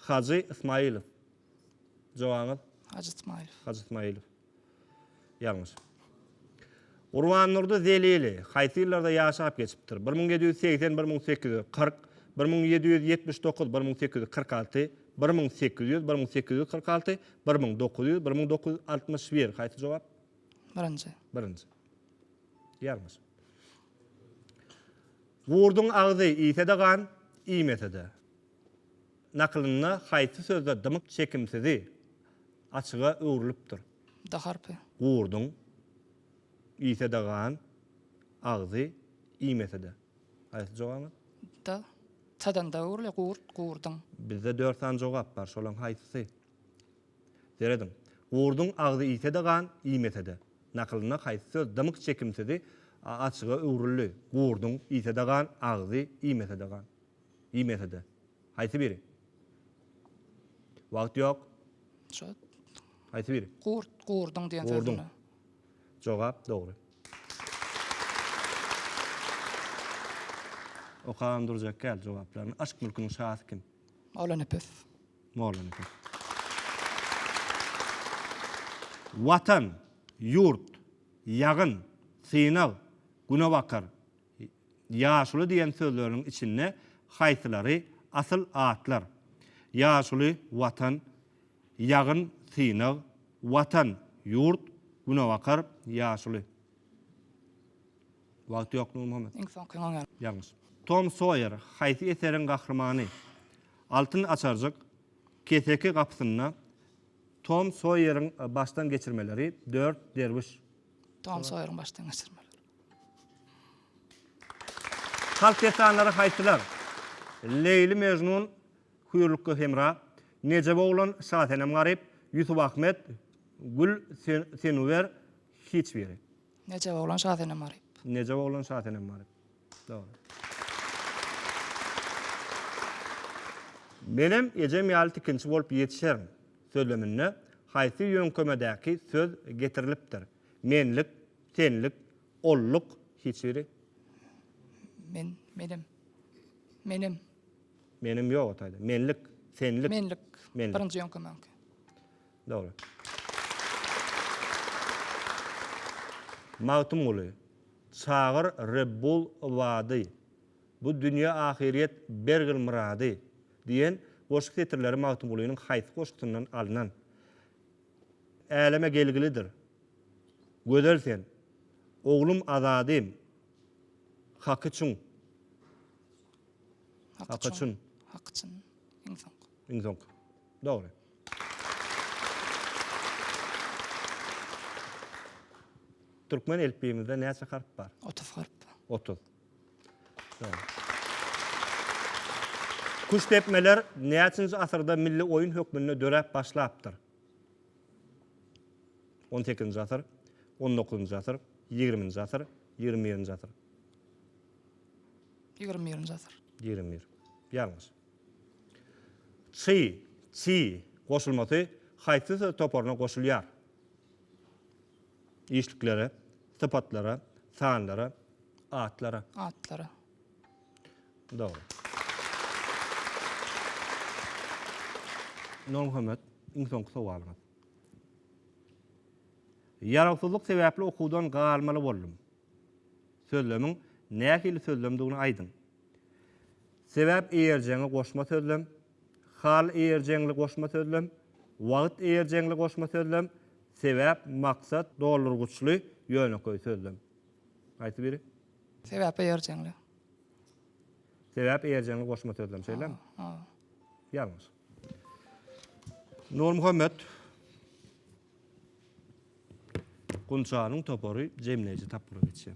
Hajy Ysmaýylow. Jogabyňyz? Hajy Ysmaýylow. Hajy Ysmaýylow. Ýalňyş. Gurbandurdy Zelili haýsy ýyllarda ýaşap geçipdir? Bir müň ýedi ýüz segsen bir müň sekiz ýüz kyrk, bir müň ýedi ýüz ýetmiş dokuz bir müň sekiz ýüz kyrk alty, Bir müň sekiz ýüz, bir müň sekiz ýüz kyrk alty, bir müň dokuz ýüz, bir müň dokuz ýüz altmyş bir. Haýsy jogap? Birinji. Birinji. Ýalňyş. Gurduň agzy iýse-de gan, iýmese-de. Nakylynda haýsy sözde dymyk çekimsizi açyga öwrülipdir? D harpy. Gurduň iýse-de gan, agzy iýmese-de. Haýsy jogabymyz? D. Tadan dowurly gurt gurduň. Bizde dört sany jogap bar, şolaň haýsysy? Serediň. Gurduň agzy iýse-de gan, iýmese-de. Nakylynda haýsy söz dymyk çekimsizi a açyga öwrüldi? Gurduň iýse-de gan, agzy iýmese-de gan. Iýmese-de. Haýsy biri? Wagt ýok. Şo. Haýsy biri? Gurt gurduň diýen söz. Gurduň. Jogap dogry. Okan durjak gal jogaplaryny. Aşk mülküniň şasy kim? Mollanepes. Mollanepes. Watan, ýurt, ýagyn, synag, günebakar, Ýaşuly diýen sözleriniň içinde haýsylary asyl atlar? Ýaşuly, Watan, Ýagyn, Synag, Watan, Ýurt, Günebakar, Ýaşuly. Wagt ýok, Nurmuhammet. Iň soňky oňýan. Ýalňyş. Tom Soýer haýsy eseriň gahrymany? Altyn açarjyk, Keseki gapysynda, Tom Soýeriň başdan geçirmeleri, Dört derwüş. Tom Soýeriň başdan geçirmeleri. Halk dessanlary haýsylar? Leýli Mejnun, Hüýrlukga hemra, Nejep oglan, Şasenem garyp, Ýusup Ahmet, Gül Senuwer, hiç biri. Nejep oglan, Şasenem garyp. Nejep oglan, Şasenem garyp. Dogry. Menem ejem ýaly tikinçi bolup ýetişerin sözleminde haýsy ýöňkemedäki söz getirilipdir? Menlik. Senlik, onluk, hiç biri. Men, menem. Menem. Menem ýok o taýda. Menlik, senlik. Menlik. Menlik. Birinji ýoňka meňki. Dogry. Magtymguly, Çagyr Rebbul Yvady, Bu dünýe ahyryýet bergil myrady diýen goşgy setirleri Magtymgulynyň haýsy goşgusyndan alnan? Äleme gelgilidir. Gözel sen. Oglum Azadym. Haky çyn. Haky çyn. Haky çyn. Iň soňky. Iň soňky. Dogry. Türkmen elipbiýimizde näçe harp bar? Otuz harp. Otuz. Küştdepmeler näçinji asyrda milli oýun hökmünde döräp başlapdyr? On sekizinji asyr, on dokuzynjy asyr, ýigriminji asyr, ýigrimi birinji asyr. Ýigrimi birinji asyr. Ýigrimi bir. Ýalňyş. Çy, çy, goşulmasy haýsy söz toparyna goşulýar? Işliklere, sypatlara, sanlara, atlara. Atlara. Dogry. Nurmuhammet, iň soňky sowalyňyz. Ýarawsyzlyk sebäpli okuwdan galmaly boldum. Sözlemiň nähili sözlemdigini aýdyň. Sebäp eýerjeňi goşma sözlem, Hal eýerjeňli goşma sözlem, Wagt eýerjeňli goşma sözlem, Sebäp, maksat, doldurgyçly ýönekeý sözlem. Haýsy biri? Sebäp eýerjeňli. Sebäp eýerjeňli goşma sözlem, şeýlemi? Hawa. Ýalňyş. Nurmuhammet Gunçanyň topary jemleýji tapgyra geçýär.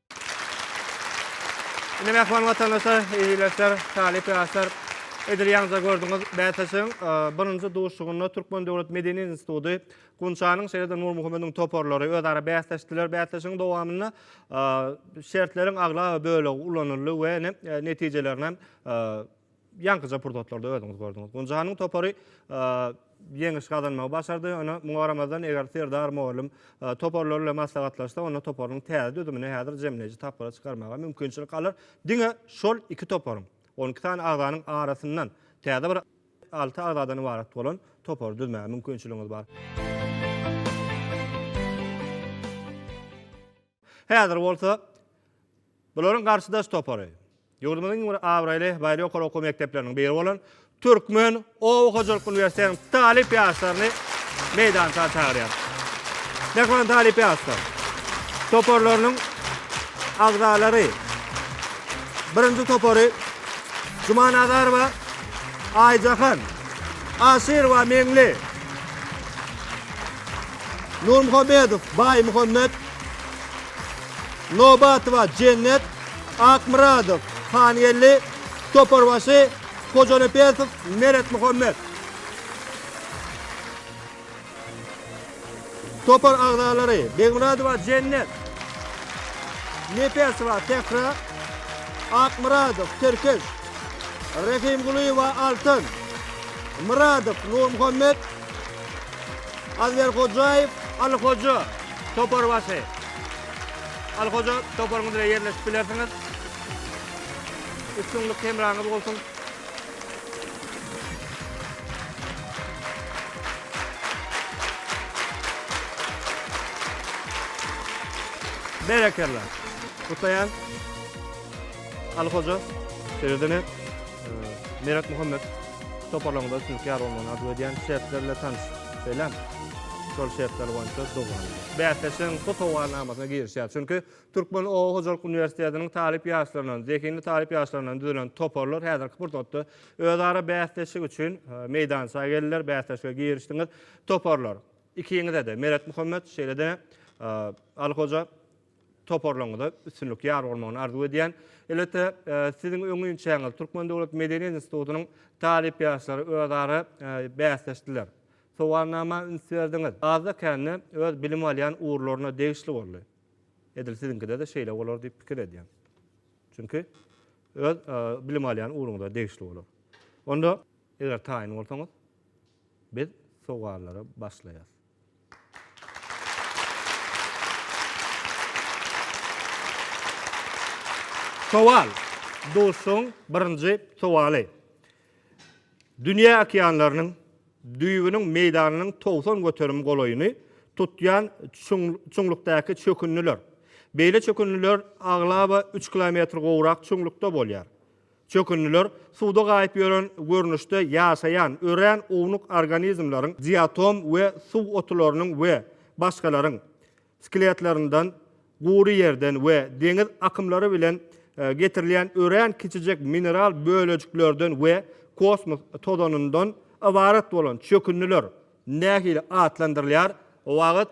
Indi mähriban watandaşlar, eziletler, talyp ýaşlar, edil ýaňja gördüňiz, bäsleşigiň birinji duşuşygynda Türkmen döwlet medeni instituty, Gunçanyň, şeýle-de Nurmuhamediň toparlary özara bäsleşdiler. Bäsleşigiň dowamynda şertleriň aglaba bölegi ulanyldy we netijelerini Ýaňkyja pursatlarda özüňiz gördüňiz. Gunjanyň topary ýeňiş gazanmagy başardy. Ýöne muňa garamazdan, eger Serdar mugallym toparlar bilen maslahatlaşsa, onda toparyň täze düzümini häzir jemleýji tapgyra çykarmaga mümkinçilik alar. Diňe şol iki toparyň, on iki sany agzanyň arasyndan täze bir alty agzadan ybarat bolan topary düzmäge mümkinçiligiňiz bar. Häzir bolsa Bularyň garşydaş topary, ýurdumyzyň iň bir abraýly baýry ýokary okuw mekdepleriniň biri bolan Türkmen oba hojalyk uniwersitetiniň talyp ýaşlaryny meýdança çagyrýarys. Mähriban talyp ýaşlar, toparlarynyň agzalary, birinji topary Juma Nazarowa, Aýjahan, Aşyrowa, Meňli, Nurmuhammedow, Baýmuhammet, Nobatowa Jennet, Akmyradow Hangeldi, Toparbaşy Hojanepesow Meretmuhammet. Topar agzalary, Begmyradowa Jennet, Nepesowa Sähra, Akmyradow Tirkiş, Rahimgulyýewa Altyn, Myradow Nurmuhammet, Azberhojaýew Alyhoja. Toparbaşy. Ali Hoja toparyňyz bilen ýerleşip bilersiňiz. Üstünlik hemraňyz bolsun. Berekella. Kutlaýan. Ali Hoja. Şeýle-de Merak Muhammet. Toparlaryňyzda üstünlik ýar bolmagyny arzuw edýän şertler bilen tanyşyň. Şeýlemi? Şol şertler boýunça dogrulyň. Bäsleşigiň bu sowalnamasyna girişýär. Çünki Türkmen oba hojalyk uniwersitetiniň talyp ýaşlaryndan, zehinli talyp ýaşlaryndan düzülen toparlar häzirki pursatda özara bäsleşik üçin meýdança geldiler, bäsleşige girişdiňiz. Toparlar, ikiňize-de, Meretmuhammet, şeýle-de Alyhoja, Toparlaryňyza üstünlik ýar bolmagyny arzuw edýän. Elbetde, siziň öň inçäňiz Türkmen döwlet medeniýet institutynyň talyp ýaşlary özara bäsleşdiler. Sowalnama üns berdiňiz. Azda-kände öz bilim alýan ugurlaryna degişli boldy. Edil siziňkide-de şeýle bolar diýip pikir edýän. Çünki öz bilim alýan ugruňyza degişli bolar. Onda eger taýyn bolsaňyz biz sowallara başlaýas. Sowal, Duşuşygyň birinji sowaly. Dünýä okeanlarynyň düýbüniň meýdanynyň togsan göterim golaýyny tutýan çuňlukdaky çökündiler. Beýle çökündiler aglaba üç kilometr gowrak çuňlukda bolýar. Çökündiler suwda gaýyp ýören görnüşde ýaşaýan örän ownuk organizmleriň, diatom we suw otularynyň we başgalaryň, skeletlerinden, gury ýerden we deňiz akymlary bilen getirilýän örän kiçijek mineral bölejiklerden we kosmos tozanyndan ybarat bolan çökündiler. Nähili atlandyrylýar? Wagt.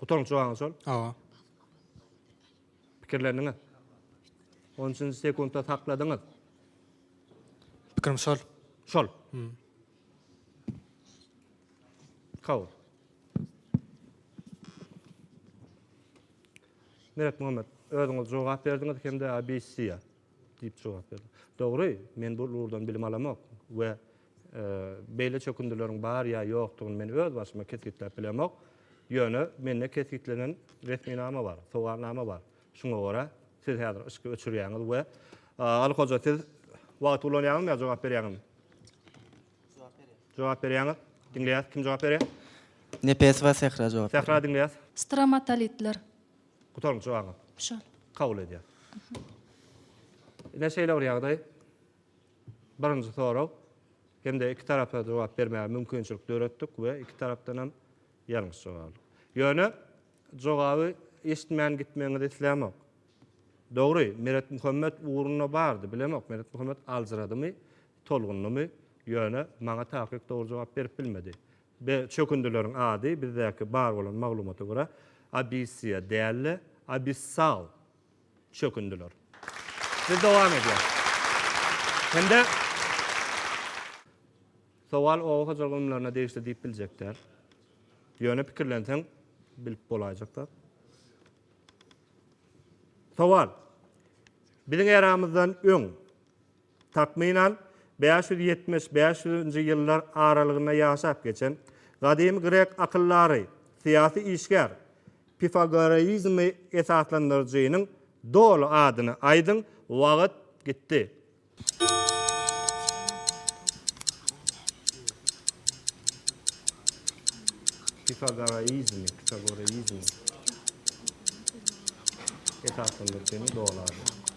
Gutaryň çygaňy şol. Hawa. Pikirlendiňiz. 13-nji sekundda sakladyňyz. Pikirim şol. Şol. Hmm. Kabul. Meret Muhammed, özüňiz jogap berdiňiz hem-de ABC-ýa diýip jogap berdiňiz. Dogry, men bu ugurdan bilim alamok we Beýle çökündileriň bar ýa ýokdugyny men öz başyma kesgitläp bilemok. Ýöne mende kesgitlenen resminama bar, sowalnama bar. Şuňa görä siz häzir yşky öçürýäňiz we Aly hoja siz wagty ulanýaňyzmy ýa jogap berýäňizmi? Jogap berýän. Jogap berýäňiz. Diňleýäs. Kim jogap berýär? Nepes we Sähra jogap berýär. Sähra diňleýäs. Stromatolitler. Gutaryňky jogabyňyz? Şol. Kabul edýäs. Ine şeýle bir ýagdaý. birinji sorag hem-de iki tarapa jogap bermäge mümkinçilik döretdik we iki tarapdan hem ýalňyş jogap aldyk. Ýöne jogaby eşitmän gitmegiňizi islämok. Dogry, Meretmuhammet ugrunda bardy, bilemok, Meretmuhammet aljyradymy, tolgundymy, ýöne maňa takyk dogry jogap berip bilmedi. Be, çökündileriň ady bizdäki bar bolan maglumata görä Abyssiýa däl-de, Abyssal çökündiler. Biz dowam edýär. Hem-de sowal oba hojalyk ylymlaryna degişli diýip biljek däl. Ýöne pikirlenseň bilip bolaýjak zat. Sowal. Biziň eramyzdan öň Takmynan, bäş ýüz ýetmiş, bäş ýüz-nji ýyllar aralygynda ýaşap geçen gadymy grek akyldary, syýasy işgär, pifagoreizmi esaslandyryjynyň doly adyny aýdyň, wagyt gitdi. Pifagoreizmi, pifagoreizmi esaslandyryjynyň doly ady.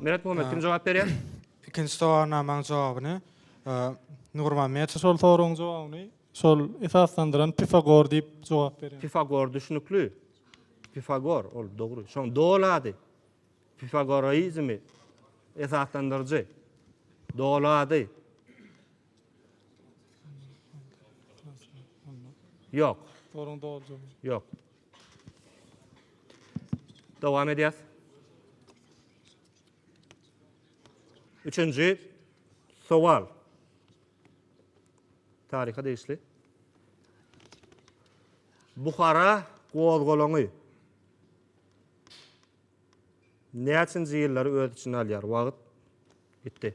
Meret Muhammed kim jogap berýär? Ikinji sowalyň namaň jogabyny? Nurmammet şol soragyň jogabyny Şol esaslandyran Pifagor diýip jogap berýär. Pifagor düşnükli. Pifagor ol dogry. Şoň doly ady. Pifagoraizmi esaslandyryjy. Doly ady. Ýok. Soruň doly jogaby. Ýok. Dowam edýäs. Üçünji sowal. Taryha degişli Buhara gozgalaňy näçinji ýyllary öz içine alýar? Wagt bitdi.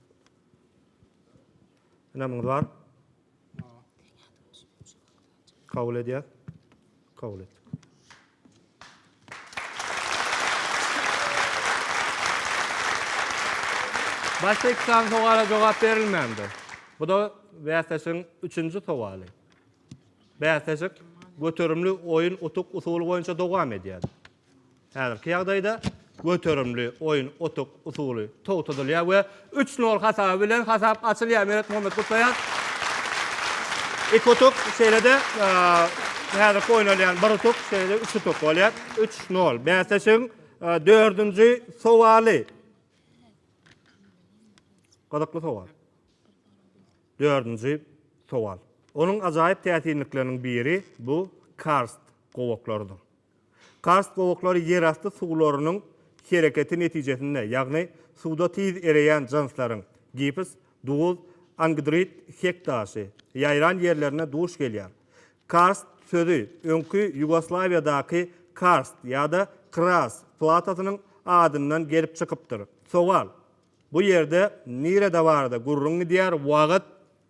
Ynamyňyz bar? Kabul edýär. Kabul et. Başga iki sany sowala jogap berilmändir. Bu da bäsleşigiň üçünji sowaly. Bäsleşik göterimli oýun utuk usuly boýunça dowam edýär. Häzirki ýagdaýda göterimli oýun otak usuly togtadylýar we üç nol hasaby bilen hasap açylýar. Meret Muhammet gutlaýar. Iki utuk, şeýle-de häzirki oýnalýan bir utuk, şeýle-de üç utuk bolýar. Üç nol. Bäsleşigiň dördünji sowaly. Gyzykly sowal. Dördünji sowal. Onuň ajaýyp täsinlikleriniň biri bu karst gowaklarydyr. Karst gowaklary ýerasty suwlarynyň hereketi netijesinde, ýagny suwda tiz ereýän jynslaryň, gips, duz, angidrit, hek daşy, ýaýran ýerlerinde duş gelýär. Karst sözi öňki Ýugoslawiýadaky karst ýa-da kras platasynyň adyndan gelip çykypdyr. Sowal, Bu ýerde nirede-barada gürrüň gidýär, wagt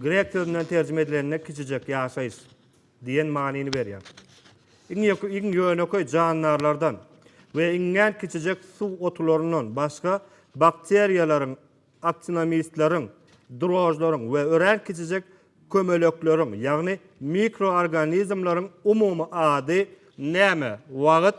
Grek sözünden terjime edilende kiçijek ýaşaýyş diýen manyny berýär. Iň ýönekeý jandarlardan we iňňän kiçijek suw otularyndan başga bakteriýalaryň, aktinomitleriň, drožlaryň we örän kiçijek kömelekleriň, ýagny mikroorganizmleriň umumy ady näme? Wagt.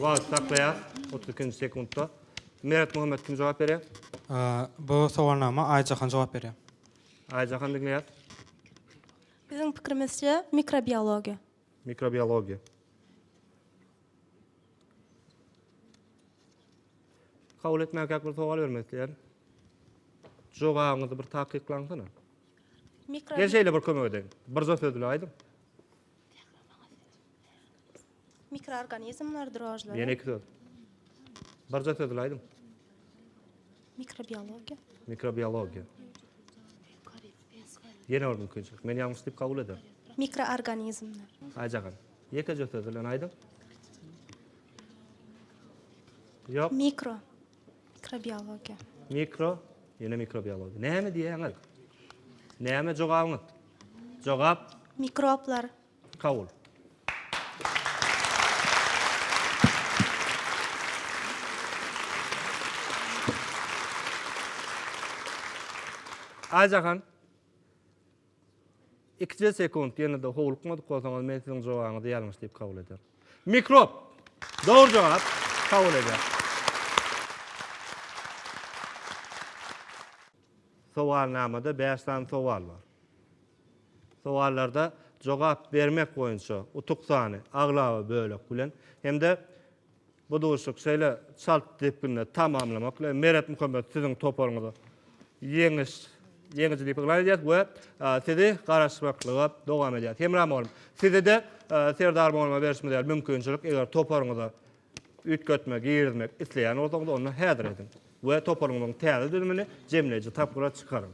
Wagt saklaýar. 32-nji sekuntda. Meret Muhammet kim jogap berýär? Bu sowalnama Aýjahan jogap berýär. Aýjahan diňleýäs. Biziň pikirimizçe mikrobiologiýa. Mikrobiologiýa. Kabul etmäkäk bir sowal bermek isleýän. Jogabyňyzy bir takyklaňsana. Mikro. Gel şeýle bir kömek edeýin. Birje söz bilen aýdyň. Mikroorganizmlerdir ojlar. Ýene iki söz. Birje söz bilen aýdyň. Mikrobiologiýa. Mikrobiologiýa. Ýene bir mümkinçilik. Men ýalňyş diýip kabul ederin. Mikroorganizmler. Aýjagan. Ýekeje söz bilen aýdyň. Ýok. Mikro. Mikrobiologiýa. Mikro. Ýene mikrobiologiýa. Näme diýýäňiz? Näme jogabyňyz? Jogap. Mikroblar. Kabul. Aýjahan. Ikide sekund ýene-de howlukmadyk bolsaňyz men siziň jogabyňyzy ýalňyş diýip kabul ederin. Mikrop. Dogry jogap. Kabul ederim. Sowalnamada bäş sany sowal bar. Sowallarda jogap bermek boýunça utuk sany aglaba bölek bilen hem-de bu duşuşyk şeýle çalt depginde tamamlamak bilen Meret Muhammet siziň toparyňyza ýeňiş ýeňiji diýip yglan edýäris we sizi garaşmaklyga dowam edýäris. Hemra mugallym, size-de Serdar mugallyma berşimiz ýaly mümkinçilik eger toparyňyza Üýtgetme, girizmek, isleýän bolsaňyz onda häzir ediň we toparyňyzyň täze düzümini jemleýji tapgyra çykaryň.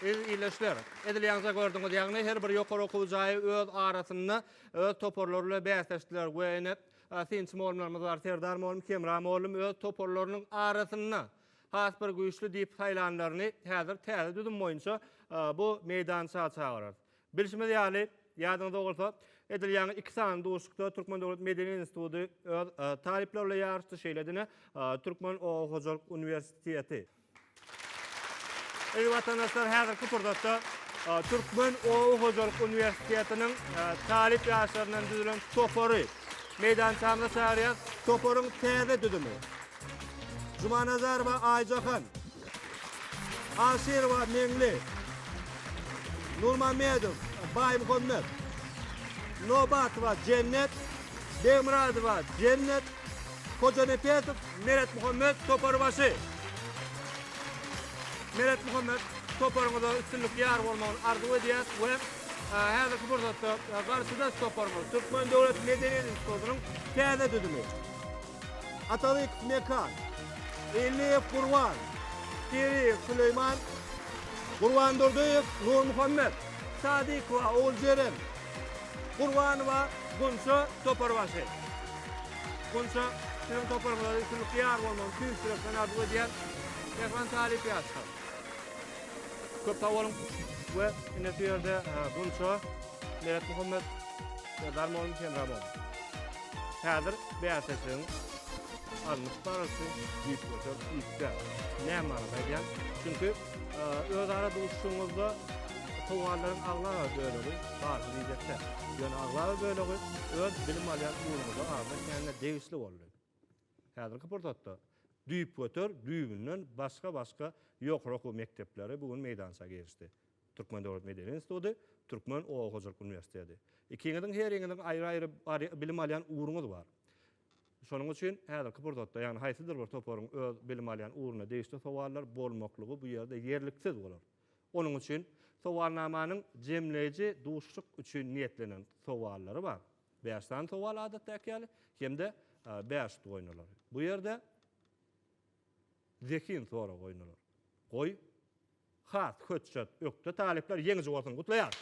Eziz ildeşler! Edilýäňize gördüňiz ýagny her bir ýokary okuw jaýy öz arasynda öz toparlary ile bäsleşdiler we ine synçy molumlarymyz bar Serdar molum, Hemra molum öz toparlarynyň arasynda has bir güýçli diýip saýlanlaryny häzir täze düzüm boýunça bu meýdança çagyrarys. Bilşimiz ýaly, ýadyňyzda bolsa, edil ýaňy iki sany duşuşykda Türkmen döwlet medeni instituty öz talyplary bilen ýaryşdy, şeýle-de Türkmen oba hojalyk uniwersiteti. Eziz watandaşlar, häzirki pursatda Türkmen oba hojalyk uniwersitetiniň talyp ýaşlaryndan düzülen topary meýdançamyza çagyrýas. Toparyň täze düzümi Jumanazarowa Aýjahan, Aşyrowa Meňli, Nurmamedow Baýmuhammet, Nobatowa Jennet, Begmyradowa Jennet, Hojanepesow Meretmuhammet toparbaşy. Meretmuhammet, toparyňyza üstünlik ýar bolmagyny arzuw edýäris we häzirki pursatda garşydaş toparymyz Türkmen döwlet medeniýet institutynyň täze düzümi. Atabekov Mekan, Elliýew Gurban, Piriýew Süleýman, Gurbandurdyýew Nurmuhammet, Sadykowa Oguljeren, Gurbanowa Gunça Toparbaşy. Gunça, siziň toparyňyza üstünlikli ýar bolmagyny tüýs ýürekden arzuw edýän mähriban talyp ýaşlar. Köp sag boluň we ine şu ýerde Gunça, Meretmuhammet, Serdar mugallym, Hemra mugallym. Häzir bäsleşigiň alnyp barylşy düýpgöter iş däl. Näme barada aýdýan? Çünki özara duşuşygyňyzda sowallaryn aglaba bölegi barha biýjekde. Ýöne aglaba bölegi öz bilim alýan ugruňyza arza etmände degişli boldy. Häzirki pursatda düýpgöter düýbünden başga-başga ýokary okuw mekdepleri bu gün meýdança girişdi. Türkmen döwlet medeni instituty, Türkmen oba hojalyk uniwersiteti. Ikiňiziň heriňiziň aýry-aýry bilim alýan ugruňyz bar. Şonuň üçin häzirki pursatda, ýagny haýsydyr bir toparyň öz bilim alýan ugruna degişli sowallar bolmaklygy bu ýerde ýerliksiz bolar. Onuň üçin sowalnamanyň jemleýji duşuşyk üçin niýetlenen sowallary bar. Bäş sany sowal adatdaky ýaly hem-de bäş utuk oýnalar. Bu ýerde zehin soragy oýnalar. Goý, Has hötjet, ökde talyplar ýeňiji bolsun! Gutlaýarys!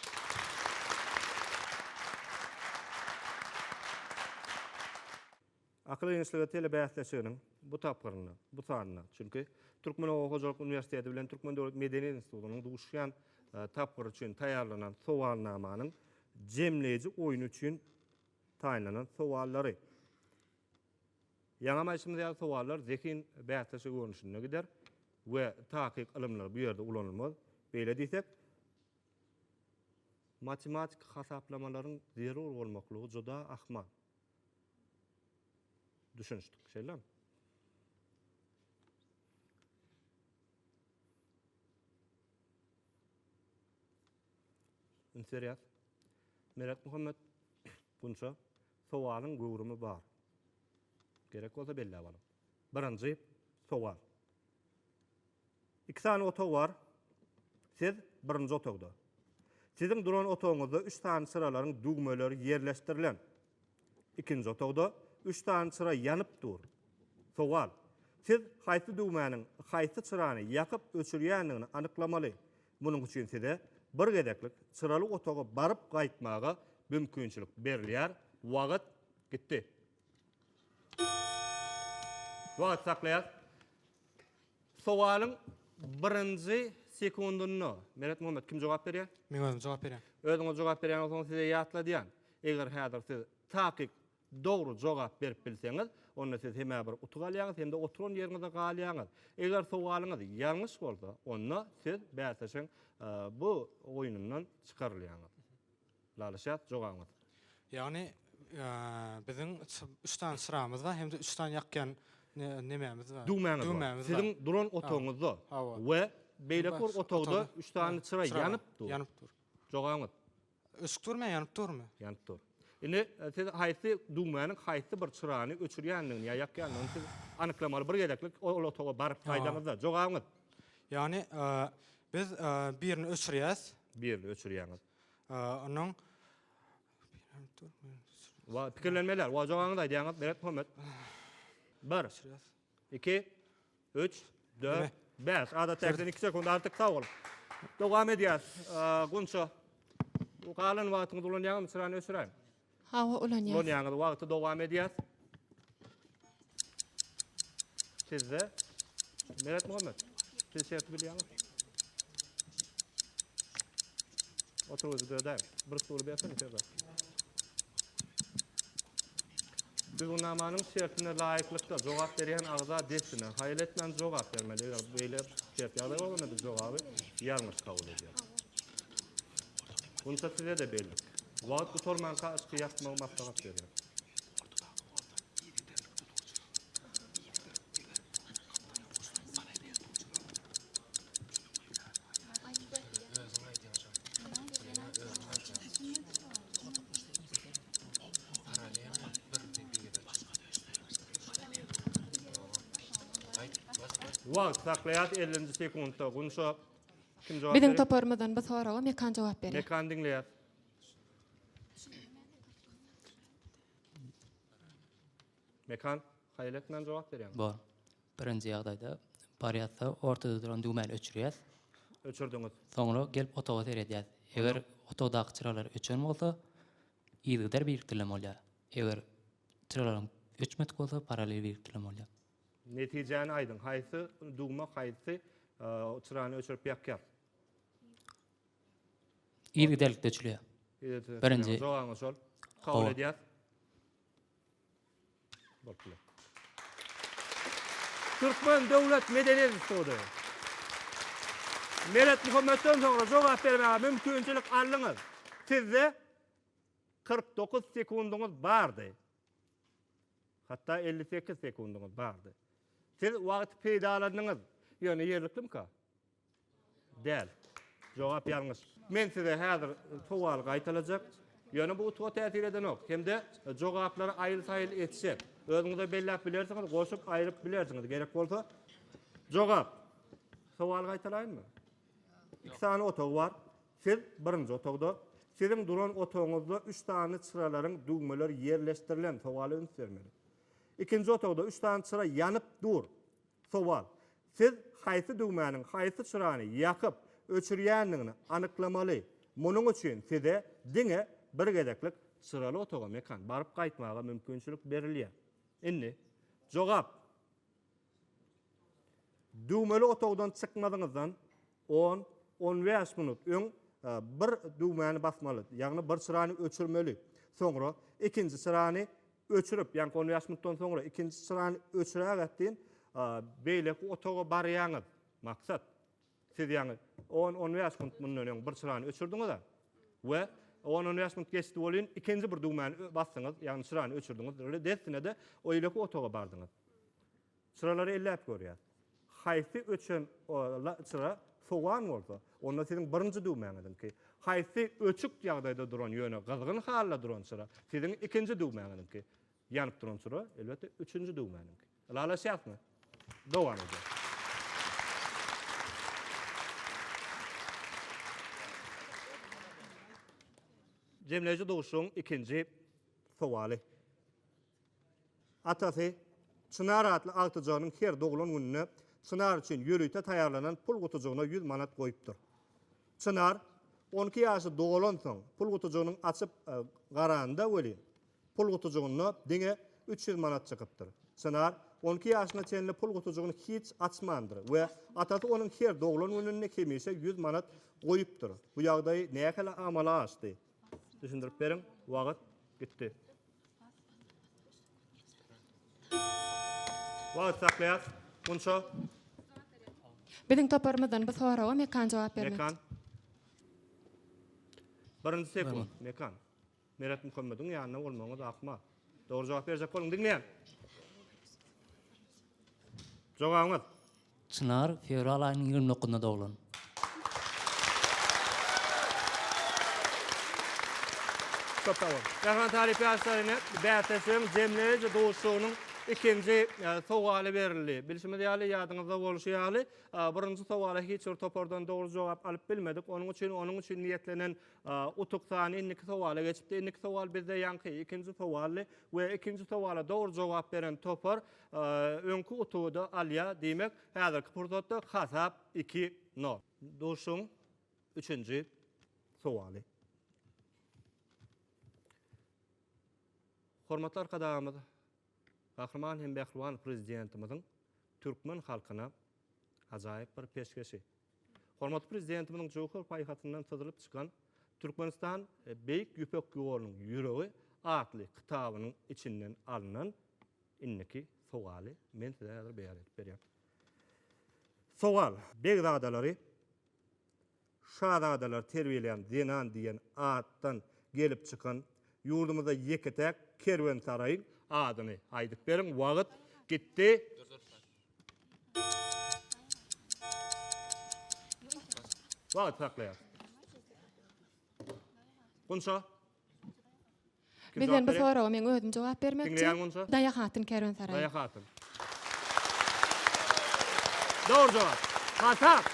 Akyl ýeňişligi telebäsleşiginiň bu tapgyrynda, bu sanynda, çünki Türkmen oba hojalyk uniwersiteti bilen Türkmen döwlet medeniýet institutynyň duşýan tapgyry üçin taýýarlanan sowalnamanyň jemleýji oýny üçin taýynlanan sowallary, Ýaňam aýtşymyz ýaly sowallar zehin bäsleşigi görnüşinde gider we takyk ylymlar bu ýerde ulanylmaz. Beýle diýsek, matematiki hasaplamalaryň zerur bolmaklygy juda ahmal. Düşünişdik, şeýlemi? Üns berýäs. Meretmuhammet Gunça Sowalyň göwrümi bar. Gerek bolsa belläp alyň. Birinji sowal. Iki sany otag bar. Siz birinji otagda. Siziň duran otagyňyzda üç sany çyralaryň düwmeleri ýerleşdirilen. Ikinji otagda üç sany çyra ýanyp dur. Sowal. Siz haýsy düwmäniň haýsy çyrany ýakyp öçürýändigini anyklamaly. Munuň üçin size bir gezeklik çyraly otaga baryp gaýtmaga mümkinçilik berilýär. Wagt gitdi. Wagt saklaýas. Sowalyň birinji sekundynda Meretmuhammet kim jogap berýär? Men özüm jogap berýän. Özüňiz jogap berýän bolsaňyz size ýatladýan. Eger häzir siz takyk Dogry jogap berip bilseňiz, onda siz hem-ä bir utuk alýaňyz, hem-de oturan ýeriňizde galýaňyz. Eger sowalyňyz ýalňyş bolsa, onda siz bäsleşigiň bu oýnundan çykarylýaňyz. Lalaşýas jogabyňyz. Ýagny, biziň üç sany çyramyz bar, hem-de üç sany ýakýan nemämiz bar? Düwmämiz bar. Siziň duran otagyňyzda we beýleki bir otagda üç sany çyra ýanyp dur. Ýanyp dur. Jogabyňyz. Öçüp durmy ýa ýanyp durmy? Ýanyp dur. Indi siz haýsy düwmäniň haýsy bir çyrany öçürýändigini ýa ýakýandygyny siz anyklamaly bir gezeklik ol otaga baryp gaýdaňyzda. Jogabyňyz? Ýagny biz birini öçürýäs. Birini öçürýäňiz. Onuň Pikirlenmeli däl. Jogabyňyzy aýdýaňyz Beretmuhammet. Bir. Iki, üç, dört, bäş. Adatdakidan iki sekund artyk. Sag bol. Dowam edýäs. Gunça. Bu galan wagtyňyzy ulanýaňyzmy? Çyrany öçüräýiň. Hawa, ulanýas. Ulanýaňyz. Wagty dowam edýäs. Sizde Meretmuhammet, siz şerti bilýäňiz. Oturuzy dödäň. Bir stuly bersin içeride. Düzgünnamanyň şertine laýyklyk Jogap berýän agza dessine haýyl etmän jogap bermeli. Eger beýle ters ýagdaý bolanda biz jogaby ýalňyş kabul edýäris. Bunça size-de bellik. Wagt gutarmanka yşky ýakmagy maslahat berýän. Wagt saklaýas 50-nji sekuntda. Gunça kim jogap Biziň toparymyzdan bu soraga Mekan jogap berýär. Mekan diňleýär. Mekan haýal etmän jogap berýär. Bor. Birinji ýagdaýda, bar ýatsa, ortada duran düwmäni öçürýäs. Öçürdiňiz. Soňra gelip otaga seredýäs. Eger otagdaky çyralar öçen bolsa, yzygider birikdirilen bolýar. Eger çyralaryň öçmedik bolsa, parallel birikdirilen bolýar. Netijäni aýdyň, haýsy düwme haýsy çyrany öçürip ýakýar? Yzygiderlikde öçülýär. Birinji. Jogabyňyz şol. Kabul edýäs. Türkmen döwlet medeniýet instituty. Meret Muhammetden soňra jogap bermäge mümkinçilik aldyňyz. Sizde kyrk dokuz sekundyňyz bardy. Hatda elli sekiz sekundyňyz bardy. Siz wagty peýdalandyňyz. Ýöne ýerliklimika? Däl. Jogap ýalňyş. Men size häzir sowaly gaýtalajak. Ýöne bu utga täsir edenok. Hem-de jogaplary aýyl-saýyl etjek. Özüňiz-de belläp bilersiňiz, goşup, aýryp bilersiňiz gerek bolsa. Jogap. Sowaly gaýtalaýynmy? Iki sany otag bar. Siz birinji otagda. Siziň duran otagyňyzda üç sany çyralaryň düwmeleri ýerleşdirilen. Sowala üns bermeli. Ikinji otagda üç sany çyra ýanyp dur. Sowal. Siz haýsy düwmäniň haýsy çyrany ýakyp, öçürýändigini anyklamaly. Munuň üçin size diňe bir gezeklik çyraly otaga mekan baryp gaýtmaga mümkinçilik berilýär. Indi, jogap. Düwmeli otagdan çykmazyňyzdan On, on bäş minut öň bir düwmäni basmaly, ýagny bir çyrany öçürmeli. Soňra ikinji çyrany öçürip, ýagny on bäş minutdan soňra ikinji çyrany öçürägät deýin, beýleki otaga barýaňyz. Maksat, siz ýagny on, on bäş minut mundan öň bir çyrany öçürdiňiz-ä we on, on bäş minut geçdi welin, ikinji bir düwmäni basdyňyz, ýagny çyrany öçürdiňiz we dessine-de oýleki otaga bardyňyz. Çyralary elläp görýär. Haýsy öçen çyra sowan bolsa, onda siziň birinji düwmäňiziňki. Haýsy öçük ýagdaýda duran, ýöne gyzgyn halda duran çyra, siziň ikinji düwmäňiziňki. Ýanyp duran çyra, elbetde, üçünji düwmäniňki. Ylalaşýasmy? Dowam edýäris. Jemleýji duşuň ikinji sowaly. Atasy Çynar atly agtyjagynyň her doglan gününe Çynar üçin ýörite taýýarlanan pul gutujygyna ýüz manat goýupdyr. Çynar on iki ýaşy dolansoň, pul gutujygynyň açyp garanda welin, pul gutujygynda diňe üç ýüz manat çykypdyr. Çynar on iki ýaşyna çenli pul gutujygyny hiç açmandyr we atasy onuň her doglan gününde hemişe ýüz manat goýupdyr. Bu ýagdaý nähili amala aşdy? Düşündirip beriň, wagt gitdi. Wagt saklaýas. Gunça. Biziň toparymyzdan bu soraga Mekan jogap bermekçi. Mekan. Birinji sekunt. Mekan. Meret Muhammediň ýanynda bolmagyňyz akmal. Dogry jogap berjek boluň. Diňleýän. Jogabyňyz. Çynar fewral aýynyň ýigrimi dokuzynda doglan. Köp sag bol. Mähriban talyp ýaşlar ine bäsleşigiň jemleýji duşuşygynyň ikinji sowaly berildi. Bilşimiz ýaly, ýadyňyzda bolşy ýaly, birinji sowala hiç bir topardan dogry jogap alyp bilmedik. Onuň üçin onuň üçin niýetlenen utuk sany indiki sowala geçipdi. Indiki sowal bizde ýaňky ikinji sowaldy we ikinji sowala dogry jogap beren topar Öňki utugy-da alýa, diýmek, häzirki pursatda hasap iki, nol. Duşuň üçünji sowaly. Hormatly Arkadagymyz Gahryman hem Mähriban Prezidentimiziň türkmen halkyna ajaýyp bir peşgeşi. Hormatly Prezidentimiziň jöwher paýhasyndan syzylyp çykan Türkmenistan Beýik Ýüpek ýolunyň ýüregi atly kitabynyň içinden alnan Indiki sogaly men size häzir beýan edip berýän. Sowal, Begzadalary şazadalar terbiýeleýän zenan diýen atdan gelip çykan ýurdumyzda ýeke-täk kerwensaraýyň adyny aýdyp beriň. Wagyt gitdi. Wagyt saklaýarys. Gunça, Bizden bu soraga meň özüm jogap bermekçi. Diňleýäňmi onsa? Daýa hatyn kerwensaraý. Daýa hatyn. Dogry jogap. Hasaap.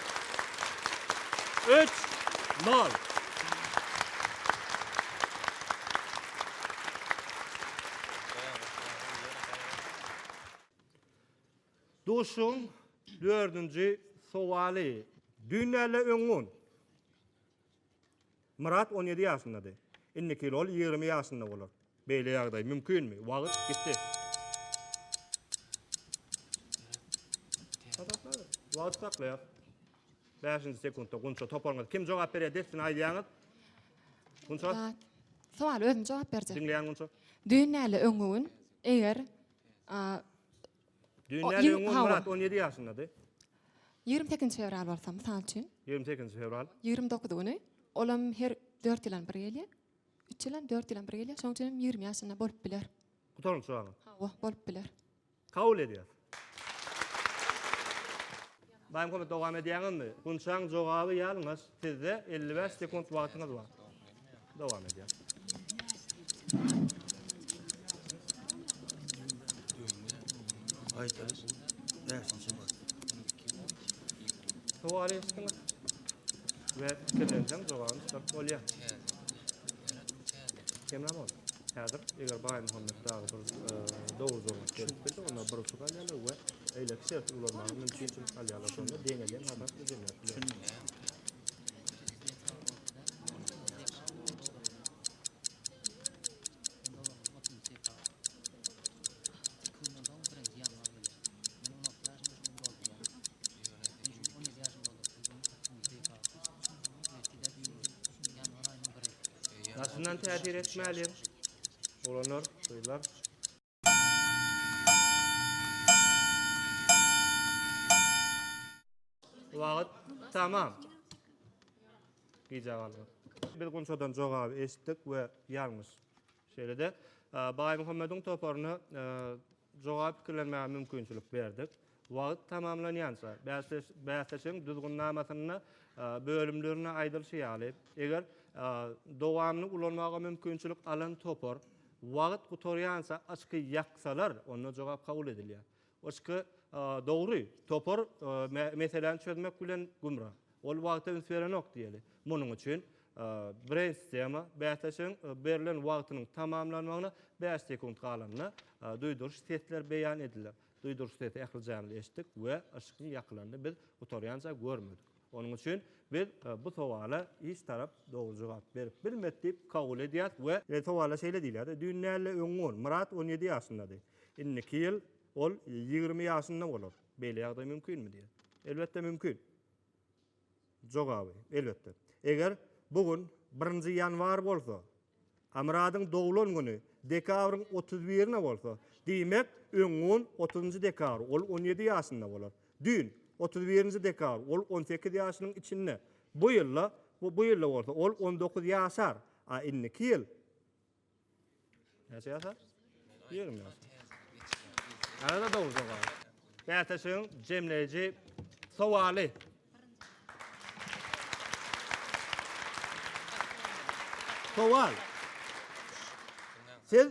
Üç, nol. Duşuşygyň dördünji sowaly. Düýn däl-de öňňun. Myrat on ýedi ýaşyndady. Indiki ýyl ol ýigrimi ýaşynda bolar. Beýle ýagdaý mümkinmi? Wagt gitdi. Wagt saklaýar. Bäşinji sekuntda Gunça toparyňyz kim jogap berýär dessine aýdýaňyz. Gunça. Sowal özüm jogap berjek. Diňleýän Gunça. Düýn näle öňňügün eger Düýnden Ýigrimi- öň hawa. Murat on ýedi ýaşyndady. Ýigrimi sekizinji fewral bolsa, mysal üçin, Ýigrimi sekizinji fewral. ýigrimi dokuzy güni, olam her dört ýylam bir gelýär. Üç ýylam, dört ýylam bir gelýär. Şonuň üçin hem ýigrimi ýaşynda bolup biler. Gutaryň suwagyň. Hawa, bolup biler. Kabul edýäs. Baýmuhammet dowam edýäňizmi? Gunçaň jogaby ýalňyş. Sizde elli bäş sekunt wagtyňyz bar. Dowam edýän. Aýtaýyş. Bäşinji wagt. Sowal eşitdiňiz. Ve fikirlenseň jogabyny çykaryp bolýar. Kemra bol. Häzir eger Baýmuhammet dagy dogry durmuş berip bildi. Onda bir uçuk alýarlar we eýleki şerti ulanmaga mümkinçilik alýarlar. Şonda deňelýän hasap düzülýär. Daşyndan täsir etmäli. Olanlar, gyzlar. Wagt tamam. Gije galdy. Biz Gunçadan jogaby eşitdik we ýalňyş. Şeýle-de Baýmuhammediň toparyny Joga pikirlenmäge mümkinçilik berdik. Wagt tamamlanýança, bäsleşigiň Düzgünnamasynda bölümlerinde aýdylyşy ýaly, eger dowamly ulanmaga mümkinçilik alan topar wagt gutarýança oçki ýaksalar, onda jogap kabul edilýär. Oçki dogry, topar meseläni çözmek bilen gümra. Ol wagta üns berenok diýeli. Munuň üçin Breýnstema, bäsleşigiň berlen wagtynyň tamamlanmagyna bäş sekunt galanda duýduryş sesler beýan ediler. Duýduryş sesi ählijämiz eşitdik we yşygyň ýakylanyny biz gutarýança görmedik. Onuň üçin biz bu sowala hiç tarap dogry jogap berip bilmedi diýip kabul edýäris we. Sowala şeýle diýilýär, Düýn däl-de öň on, Myrat on ýedi ýaşyndady. Indiki ýyl ol ýigrimi ýaşynda bolar. Beýle ýagdaý mümkinmi? diýýär. Elbetde mümkin. Jogaby, elbetde. Eger bu gün birinji ýanwar bolsa, a Myradyň doglan güni dekabryň otuz birine bolsa, diýmek, öňňun otuzynjy dekabr ol on ýedi ýaşynda bolar. Düýn, otuz birinji dekabr, ol on sekiz ýaşynyň içinde. Bu ýylda, bu ýylda bolsa ol on dokuz ýaşar, a indiki ýyl. Näçe ýasa? 20 ýasa. Ýa-da dogry jogap. Bäsleşigiň jemleýji sowaly. Sowal. Siz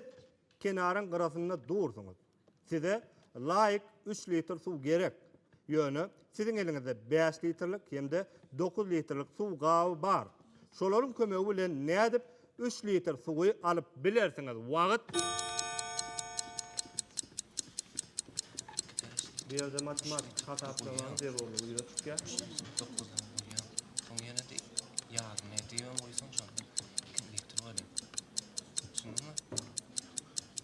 kenaryň gyrasynda dursuňyz. Size laýyk üç litr suw gerek. Ýöne siziň eliňizde bäş litrlik hem-de dokuz litrlik suw gaby bar. Şolaryň kömegi bilen nädip üç litr suwy alyp bilersiňiz? Wagt. Bu ýerde matematiki hasaplamaň zerurlygy ýüze çykýar. Dokuz dan bölýäň. Soň ýene de ýarym edýäň, goýsaň şonda iki litr bolýar. Düşündiňmi?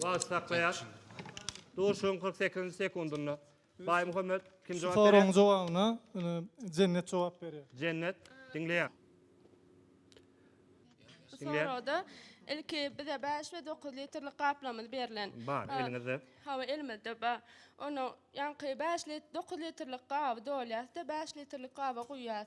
Wagt saklaýar. Duşuň 48-nji sekundynda. Baýmuhammet kim jogap berýär? Soragyň jogabyna ine Jennet jogap berýär. Jennet diňleýär. Bu soragda ilki bize 5 we 9 litrlik gaplamyz berlen. Bar eliňizde. Hawa elimizde bar. Onuň ýaňky 5 lit 9 litrlik gaby dolýas-da 5 litrlik gaba guýýas.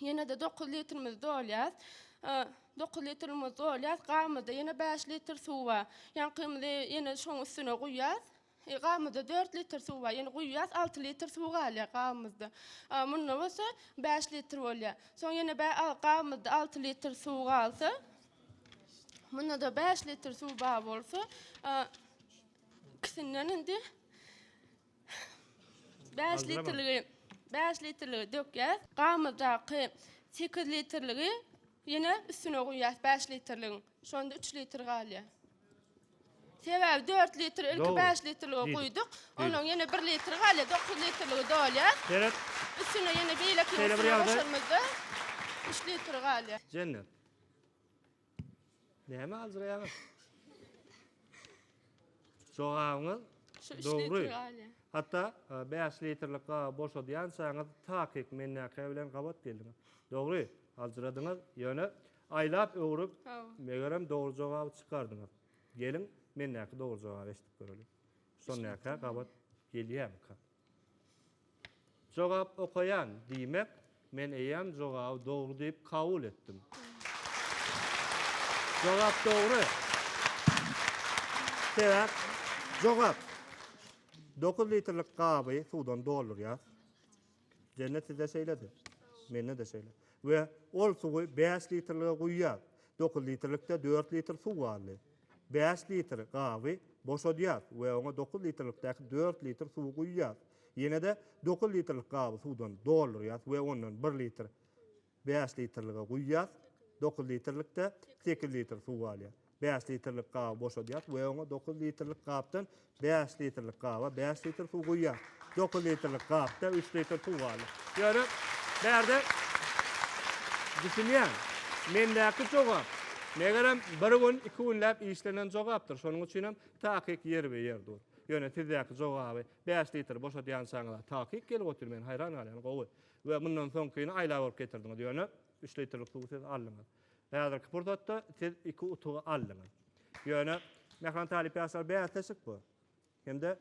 Ýene-de dokuz litrimizi dolýarys. Dokuz litrimizi dolýarys. Gabymyzda ýene bäş litr suw bar. Ýaňkymyzy ýene şoň üstüne guýýarys. E, gabymyzda dört litr suw bar. Ýene guýýarys, alty litr suw galýar gabymyzda. A, munda bolsa bäş litr bolýar. Soň ýene bä a, gabymyzda alty litr suw galsa, munda-da bäş litr suw bar bolsa, a, ikisinden indi Bäş litrligi, bäş litrligi dökýäs. Gamyrdaky sekiz litrligi ýene üstüne guýýas bäş litrligiň. Şonda üç litr galýar. Sebäbi dört litr ilki Dogry. bäş litrlige Diýdik. guýduk. Diýdik. Onuň ýene bir litr galýar, dokuz litrligi dolýar. Seret, Üstüne ýene beýleki Şeýle bir üstüne ýagdaý. goşanymyzda üç litr galýar. Jennet. Näme aljyraýaňyz? Jogabyňyz dogry. Hatda 5 litrlik gaba boşadýançaňyz takyk mennäkä bilen gabat geldiňiz. Dogry, aljyradyňyz, ýöne aýlap öwrüp, megerem dogry jogaby çykardyňyz. Geliň, mennäki dogry jogaby eşidip göreliň. Şonäkä gabat gelýärmikä? Jogap okaýan, diýmek, men eýýäm jogaby dogry diýip kabul etdim. Jogap dogry. Sebäp? Jogap. Dokuz litrlik gaby suwdan doldurýas. Jenne sizde şeýledi. Mende-de şeýle. We ol suwy bäş litrlige guýýas. Dokuz litrlikde dört litr suw galdy. Bäş litr gaby boşadýas we oňa dokuz litrlikdäki dört litr suwy guýýas. Ýene-de dokuz litrlik gaby suwdan doldurýas we ondan bir litr bäş litrlige guýýas. Dokuz litrlikde sekiz litr suw galýar. Bäş litrlik gaby boşadýas we oňa dokuz litrlik gapdan Bäş litrlik gaba bäş litr suw guýýar. Dokuz litrlik gapda üç litr suw galar. Ýöne bärde düşünýän. Mendäki jogap, megerem, bir gün, iki günläp işlenen jogapdyr. Şonuň üçinem takyk ýerbe-ýer dur. Ýöne sizdäki jogaby bäş litr boşadýançaňyz-a takyk gelip otyr. Men haýran galýan. Gowy. We mundan soňkyny aýlap alyp getirdiňiz. Ýöne üç litrlik suwy siz aldyňyz. Häzirki pursatda siz iki utugy aldyňyz. Ýöne Mähran talyp ýaşlar bäsleşik bu. Hem-de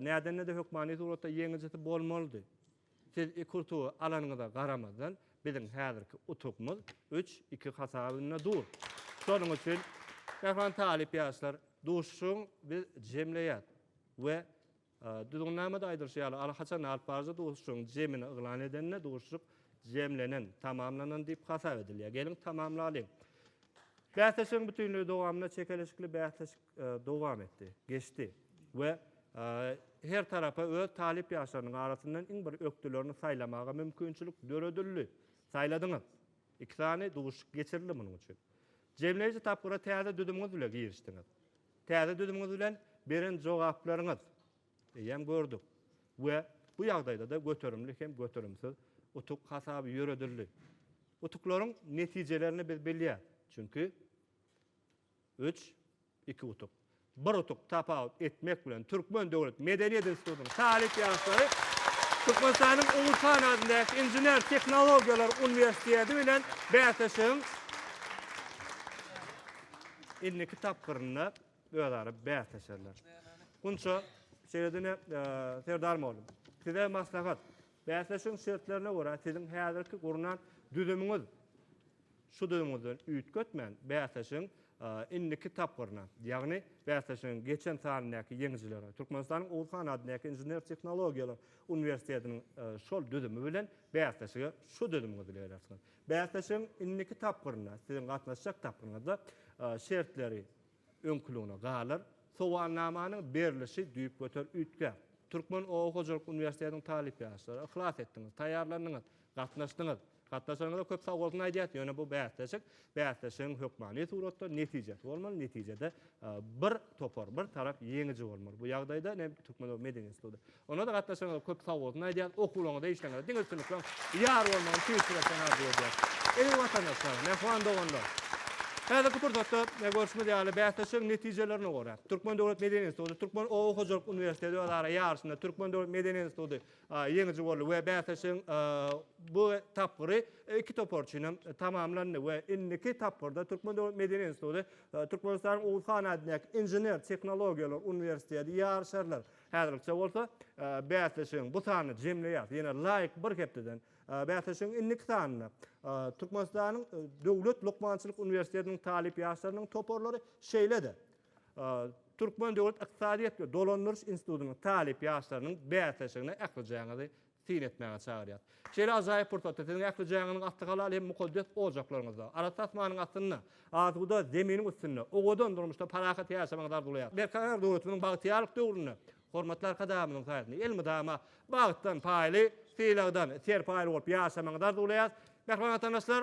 näden-näde hökmany suratda ýeňijisi bolmalydy. Siz iki utugy alanyňyza garamazdan, biziň häzirki utugymyz üç, iki hasabynda dur. Şonuň üçin Mähran talyp ýaşlar, duşuşygyň biz jemleýäs we Düzgünnamada aýdylyşy ýaly, alhaçan alyp baryjy duşuşygyň jemini yglan edende duşuşyk jemlenen, tamamlanan diýip hasap edilýär. Geliň, tamamlalyň. Bäsleşigiň bütinleý dowamynda çekeleşikli bäsleşik dowam etdi, geçdi we her tarapa öz talyp ýaşlarynyň arasyndan iň bir ökdülerini saýlamaga mümkinçilik döredildi. Saýladyňyz. Iki sany duşuşyk geçirildi munuň üçin. Jemleýji tapgyra täze düzümiňiz bile girişdiňiz. Täze düzümiňiz bilen beren jogaplaryňyz eýýäm gördük we bu ýagdaýda-da göterimli hem göterimsiz utuk hasaby ýöredildi. Utuklaryň netijelerini biz bilýäs, çünki üç, Iki utuk, bir utuk tapawut etmek bilen, Türkmen döwlet medeniýet institutynyň talyp ýaşlary Türkmenistanyň Uluçan adyndaky Inžener-tehnologiýalar uniwersiteti bilen bäsleşigiň indiki tapgyrynda özara bäsleşerler. Gunça, şeýle diňe Serdar mugallym, size maslahat, bäsleşigiň şertlerine görä, siziň häzirki gurnan düzümiňiz Şudyňyzdan üýtgetmän, bäsleşigiň indiki tapgyryna, ýagny bäsleşigiň geçen sanyndaky ýeňijilerine Türkmenistanyň Oguzhan adyndaky Inžener-tehnologiýalar uniwersitetiniň şol düzümi bilen bäsleşige şu düzümiňizi berersiňiz. Bäsleşigiň indiki tapgyrynda, siziň gatnaşjak tapgyryňyzda şertleri, öňküligine galar, sowalnamanyň berlişi düýpgöter üýtgär. Türkmen oba hojalyk uniwersitetiniň talyp ýaşlary, yhlas etdiňiz, taýýarlandyňyz, gatnaşdyňyz. Gatnaşanyňyza köp sagbolsun aýdýas, ýöne bu bäsleşik, bäsleşigiň hökmany suratda netijesi bolmaly, netijede bir topar, bir tarap ýeňiji bolmaly. Bu ýagdaýda ne Türkmen oba medeniýet instituty, Onda-da gatnaşanyňyza köp sag bolsun aýdýarys. Okuwlaryňyzda, işleriňizde diňe üstünlikleň ýar bolmagyny tüýs ýürekden arzuw edýäris. Eziz watandaşlar, mähriban doganlar! Häzirki pursatda, görşümiz ýaly, bäsleşigiň netijelerine görä, Türkmen döwlet medeni instituty, Türkmen oba hojalyk uniwersiteti özara ýaryşynda Türkmen döwlet medeni instituty ýeňiji boldy we bäsleşigiň bu tapgyry iki topar üçin hem tamamlandy we indiki tapgyrda Türkmen döwlet medeni instituty Türkmenistanyň Oguz han adyndaky Inžener tehnologiýalar uniwersiteti ýaryşarlar. Häzirlikçe bolsa bäsleşigiň bu sanyny jemleýäs. Ýene laýyk bir hepdeden bäsleşigiň indiki sanynda Türkmenistanyň Döwlet lukmançylyk uniwersitetiniň talyp ýaşlarynyň toparlary şeýle-de Türkmen döwlet ykdysadyýet we dolandyryş institutynyň talyp ýaşlarynyň bäsleşigine ähli jaýyňyzy syn etmäge çagyrýar. Şeýle ajaýyp pursatda siziň ähli jaňyňyz atly halal hem mukaddes ojaklaryňyzda, arassa asmanyň astynda, asuda zeminiň üstünde, owadan durmuşda parahat ýaşamagyňyz arzuwlaýar. Berkarar döwletimiziň bagtyýarlyk döwründe hormatly Arkadagymyzyň saýasynda elmydama bagtdan paýly, sylagdan serpaýly bolup ýaşamagyňyzy arzuwlaýarys. Mähriban Watandaşlar!